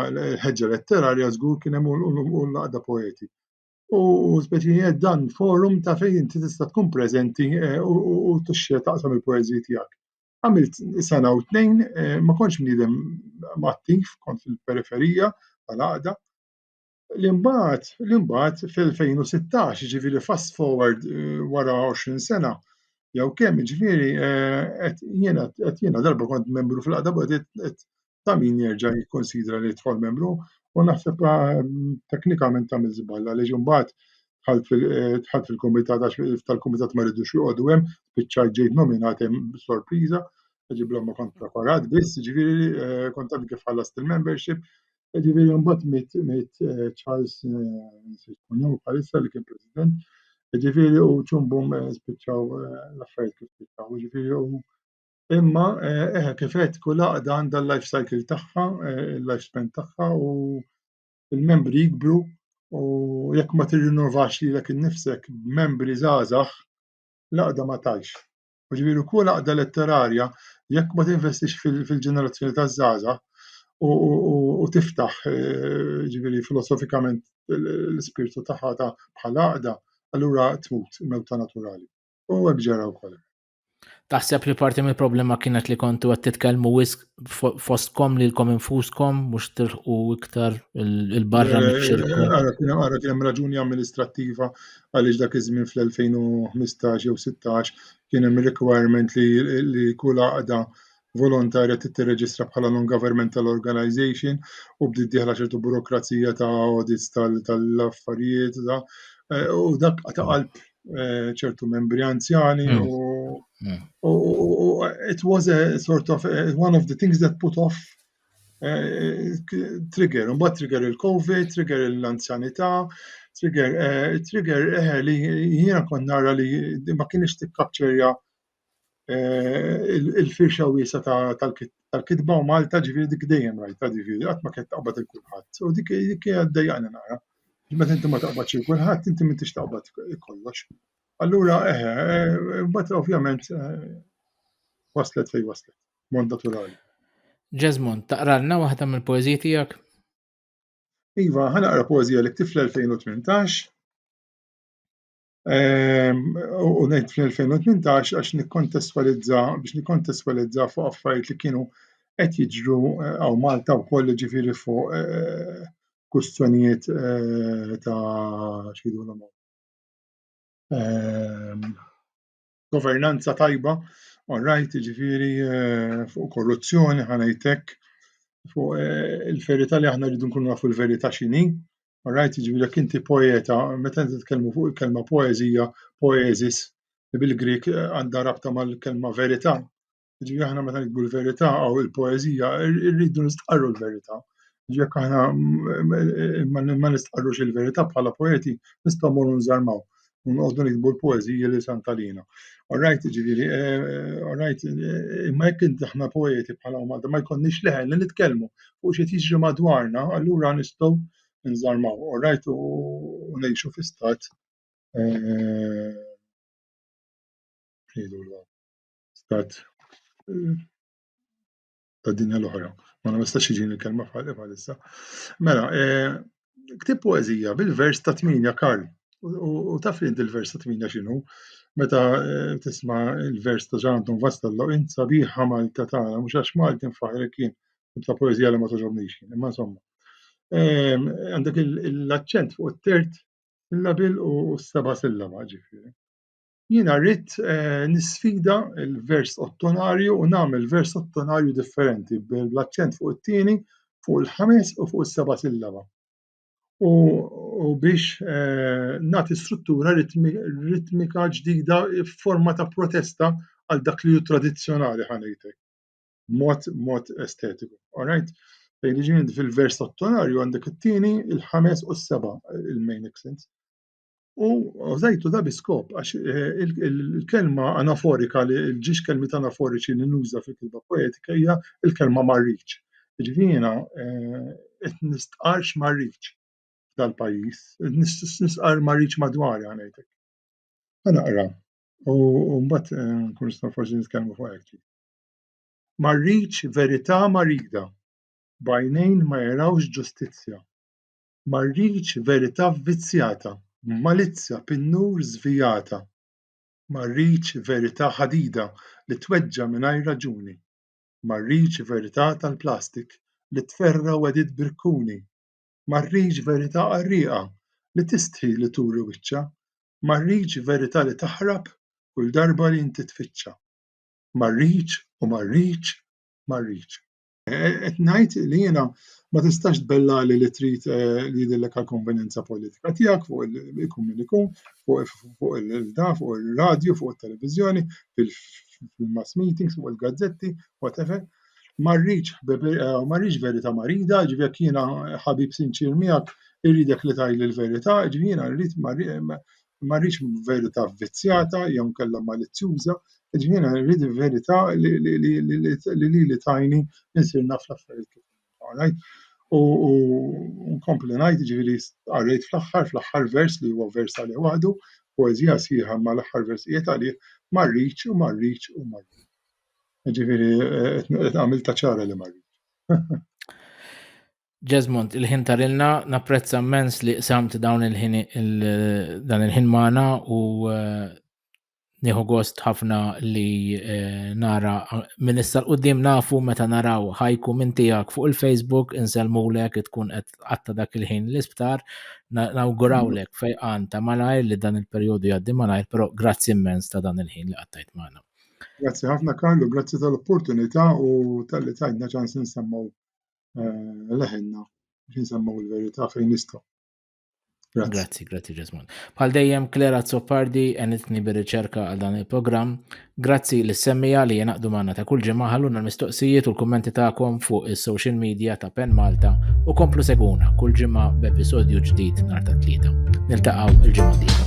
ħeġġa letterarja żgur kien hemm u laqda poeti. U speċi qed dan forum ta' fejn inti tista' tkun preżenti eh, u tixxi taqsam il-poeżiji tiegħek. Għamilt sena u tnejn, eh, ma kontx bniedem attiv, kont fil-periferija tal-għaqda, li mbagħad li mbagħad fl-2016, jiġifieri fast forward eh, wara 20 sena, jew kemm jiġifieri eh, jiena qed jiena darba kont membru fil-qada qed ta' min jerġa' jikkonsidra li tħol membru u naħseb eh, teknikament tagħmel żballa li mbagħad tħalt fil-komitat għax tal-komitat ma rridux joqogħdu hemm biċċa ġejt nominat hemm sorpriża ġiblhom ma kont preparat biss ġifieri kont kif ħallast il-membership Ġifieri mbagħad miet miet eh, Charles Siskunu eh, bħalissa li kien President. Ġifieri u ċumbum eh, spiċċaw l-affarijiet kif spiċċaw. Ġifieri u imma eh kif qed kull għaqda għandha l-life cycle tagħha, il-life span tagħha u l-membri jikbru u jekk ma tirrinnovax lilek innifsek b'membri żgħażagħ l-għaqda ma tajx. U ġifieri kull għaqda letterarja jekk ma tinvestix fil-ġenerazzjoni taż-żgħażagħ u tiftaħ eh, ġifieri filosofikament l-ispirtu tagħha ta' bħala għaqda, allura tmut mewta naturali. U hekk ġara wkoll. Taħseb li parti mill-problema kienet li kontu għed titkelmu wisq fostkom li l-kom infuskom mux tilħu iktar il-barra eh, nifxirku. Għara kienem raġuni amministrativa għaliex dak iż-żmien fl-2015 jew 16 kien hemm requirement li, li kull għaqda volontarja tittirreġistra bħala non-governmental organization u bdiet diħla ċertu burokrazija ta' audits tal-affarijiet tal eh, u dak ta' qalb eh, ċertu membri anzjani mm. u mm. it was a sort of eh, one of the things that put off Trigger, un trigger il-Covid, trigger l-anzjanità, trigger, eh, trigger eh, li jiena kon nara li ma kienx tikkapċerja eh, il-firxa wiesa tal-kitba u Malta ġifieri dik dejjem rajta ġifieri qatt ma kienet taqbad il-kulħadd. U dik dik għaddejjaqna nara. Meta inti ma taqbadx il-kulħadd, inti m'intix taqbad kollox. Allura, eh, eh, eh, ovvjament waslet fej waslet. mod naturali. Ġezmond, taqralna waħda mill-poeziji tiegħek? Iva, ħanaqra poezija li ktif l-2018. Ehm, u ngħid fl-2018 għax nikkontestwalizza biex nikkontestwalizza fuq affarijiet li kienu qed jiġru eh, għaw Malta wkoll ġifieri fuq eh, kustjonijiet eh, ta' xidulhom. Ehm, governanza tajba, all right, jiġifieri eh, fuq korruzzjoni ħanajtek, fuq eh, il-verità li aħna rridu nkunu nafu l-verità x'inhi, all right, jiġifieri jekk inti poeta, meta inti tkellmu fuq il-kelma poeżija, poesis, li bil-Grik eh, għandha rabta mal-kelma verità, Ġi aħna meta nikbu l-verità u l-poezija rridu nistqarru l-verità. Jekk aħna ma nistqarrux il-verità bħala poeti nistgħu morru nżarmaw u nqogħdu nikbu l-poezija li santalina. Alright, ġifieri, eh, alright, eh, imma jekk inti aħna poeti bħala Malta ma jkollniex leħen li nitkellmu fuq xi tiġri madwarna, allura nistgħu nżarmaw, alright, u ngħixu fi stat eh, stat ta' dinja l-oħra. Ma nistax iġini l-kelma f'ħalli bħalissa. Mela, eh, ktib poezija bil-vers ta' tminja Karl. U taf li il-vers ta' tminja xinu? Meta eh, tisma il-vers ta' Ġan Anton Vastello, int sabiħa Malta tagħna, mhux għax Malti nfaħrek kien ta' poezija li ma toġobnix kien, imma insomma. Eh, għandek l-aċċent fuq it-tert il-labil u s-seba sillaba ġifieri. Jiena rrid eh, nisfida l-vers ottonarju u nagħmel vers ottonarju differenti bl-aċċent fuq it-tieni, fuq il-ħames u fuq is-seba' sillaba. U, u biex eh, nagħti struttura ritmika ġdida f'forma ta' protesta għal dak li hu tradizzjonali ħanejtek. Mod mod estetiku. Alright? Fejn fil-vers ottonarju għandek it-tieni, il-ħames u s-seba' il-main accents. u użajtu da biskop għax eh, il-kelma anaforika li l-ġiex kelmi anaforiċi li nuża fil-kitba poetika hija il-kelma marriċ. Ġivina, eh, qed nistqarx marriċ dal-pajjiż, nistqar marriċ madwar għanajtek. Naqra, u mbagħad eh, nkun nistgħu forsi nitkellmu fuq hekk. Marriċ verità marida, bajnejn ma jarawx ġustizzja, Ma rridx verità vvizzjata, b'malizzja pin-nur żvijata. Ma rridx verità ħadida li tweġġa' mingħajr raġuni. Ma rridx verità tal-plastik li tferra' wegħdiet b'rikkuni. Ma rridx verità qarrieqa li tistħi li turi wiċċha. Ma rridx verità li taħrab kull darba li inti tfittxha. Ma rridx u ma rridx, ma rridx. Qed ngħid li jiena ma tistax tbellali li trid eh, li jidillek għal konvenjenza politika tiegħek fuq ikun min ikun, fuq il-da, fuq il-radju, fuq il-televizjoni, fil-mass meetings, fuq il-gazzetti, whatever. Marriċ, eh, marriċ verita marida, ġivjek jiena ħabib sinċir miegħek irridek li tajli l-verita, ġivjena rrid imma rridx verità vvizzjata jew inkella malizzjuża, jiġifieri jiena rrid il-verità li lili tgħinni insir naf l-affarijiet kif huma, all right? U nkompli ngħid, jiġifieri qarrejt fl-aħħar, fl-aħħar vers li huwa vers għalih waħdu, poeżija sħiħa imma l-aħħar versijiet għalih, ma rridx u ma rridx u ma rridx. Jiġifieri għamiltha ċara li ma rridx. Jesmond, il-ħin tarilna, napprezza mens li qsamt dawn il-ħin dan il-ħin magħna u eh, nieħu gost ħafna li eh, nara minn issa l-qudiem nafu meta naraw ħajku minn tiegħek fuq il-Facebook insellmulek tkun qed qatta dak il-ħin l-isptar nawgurawlek mm. fejqan ta' malajr li dan il-perjodu jgħaddi malajr, però grazzi immens ta' dan il-ħin li qattajt magħna. Grazzi ħafna Karlu, grazzi tal-opportunità u tal-li tajna ċans nsemmaw leħenna biex nsemmaw il-verità fejn nistgħu. Grazzi, grazzi Ġesmon. Bħal dejjem Klera Zoppardi enitni bir-riċerka għal dan il-programm. Grazzi l semmija li jenaqdu manna ta' kull ġimgħa ħalluna l-mistoqsijiet u l-kummenti tagħkom fuq is-social media ta' Pen Malta u komplu seguna kull ġimgħa b'episodju ġdid nhar ta' tlieta. Niltaqgħu il-ġimgħa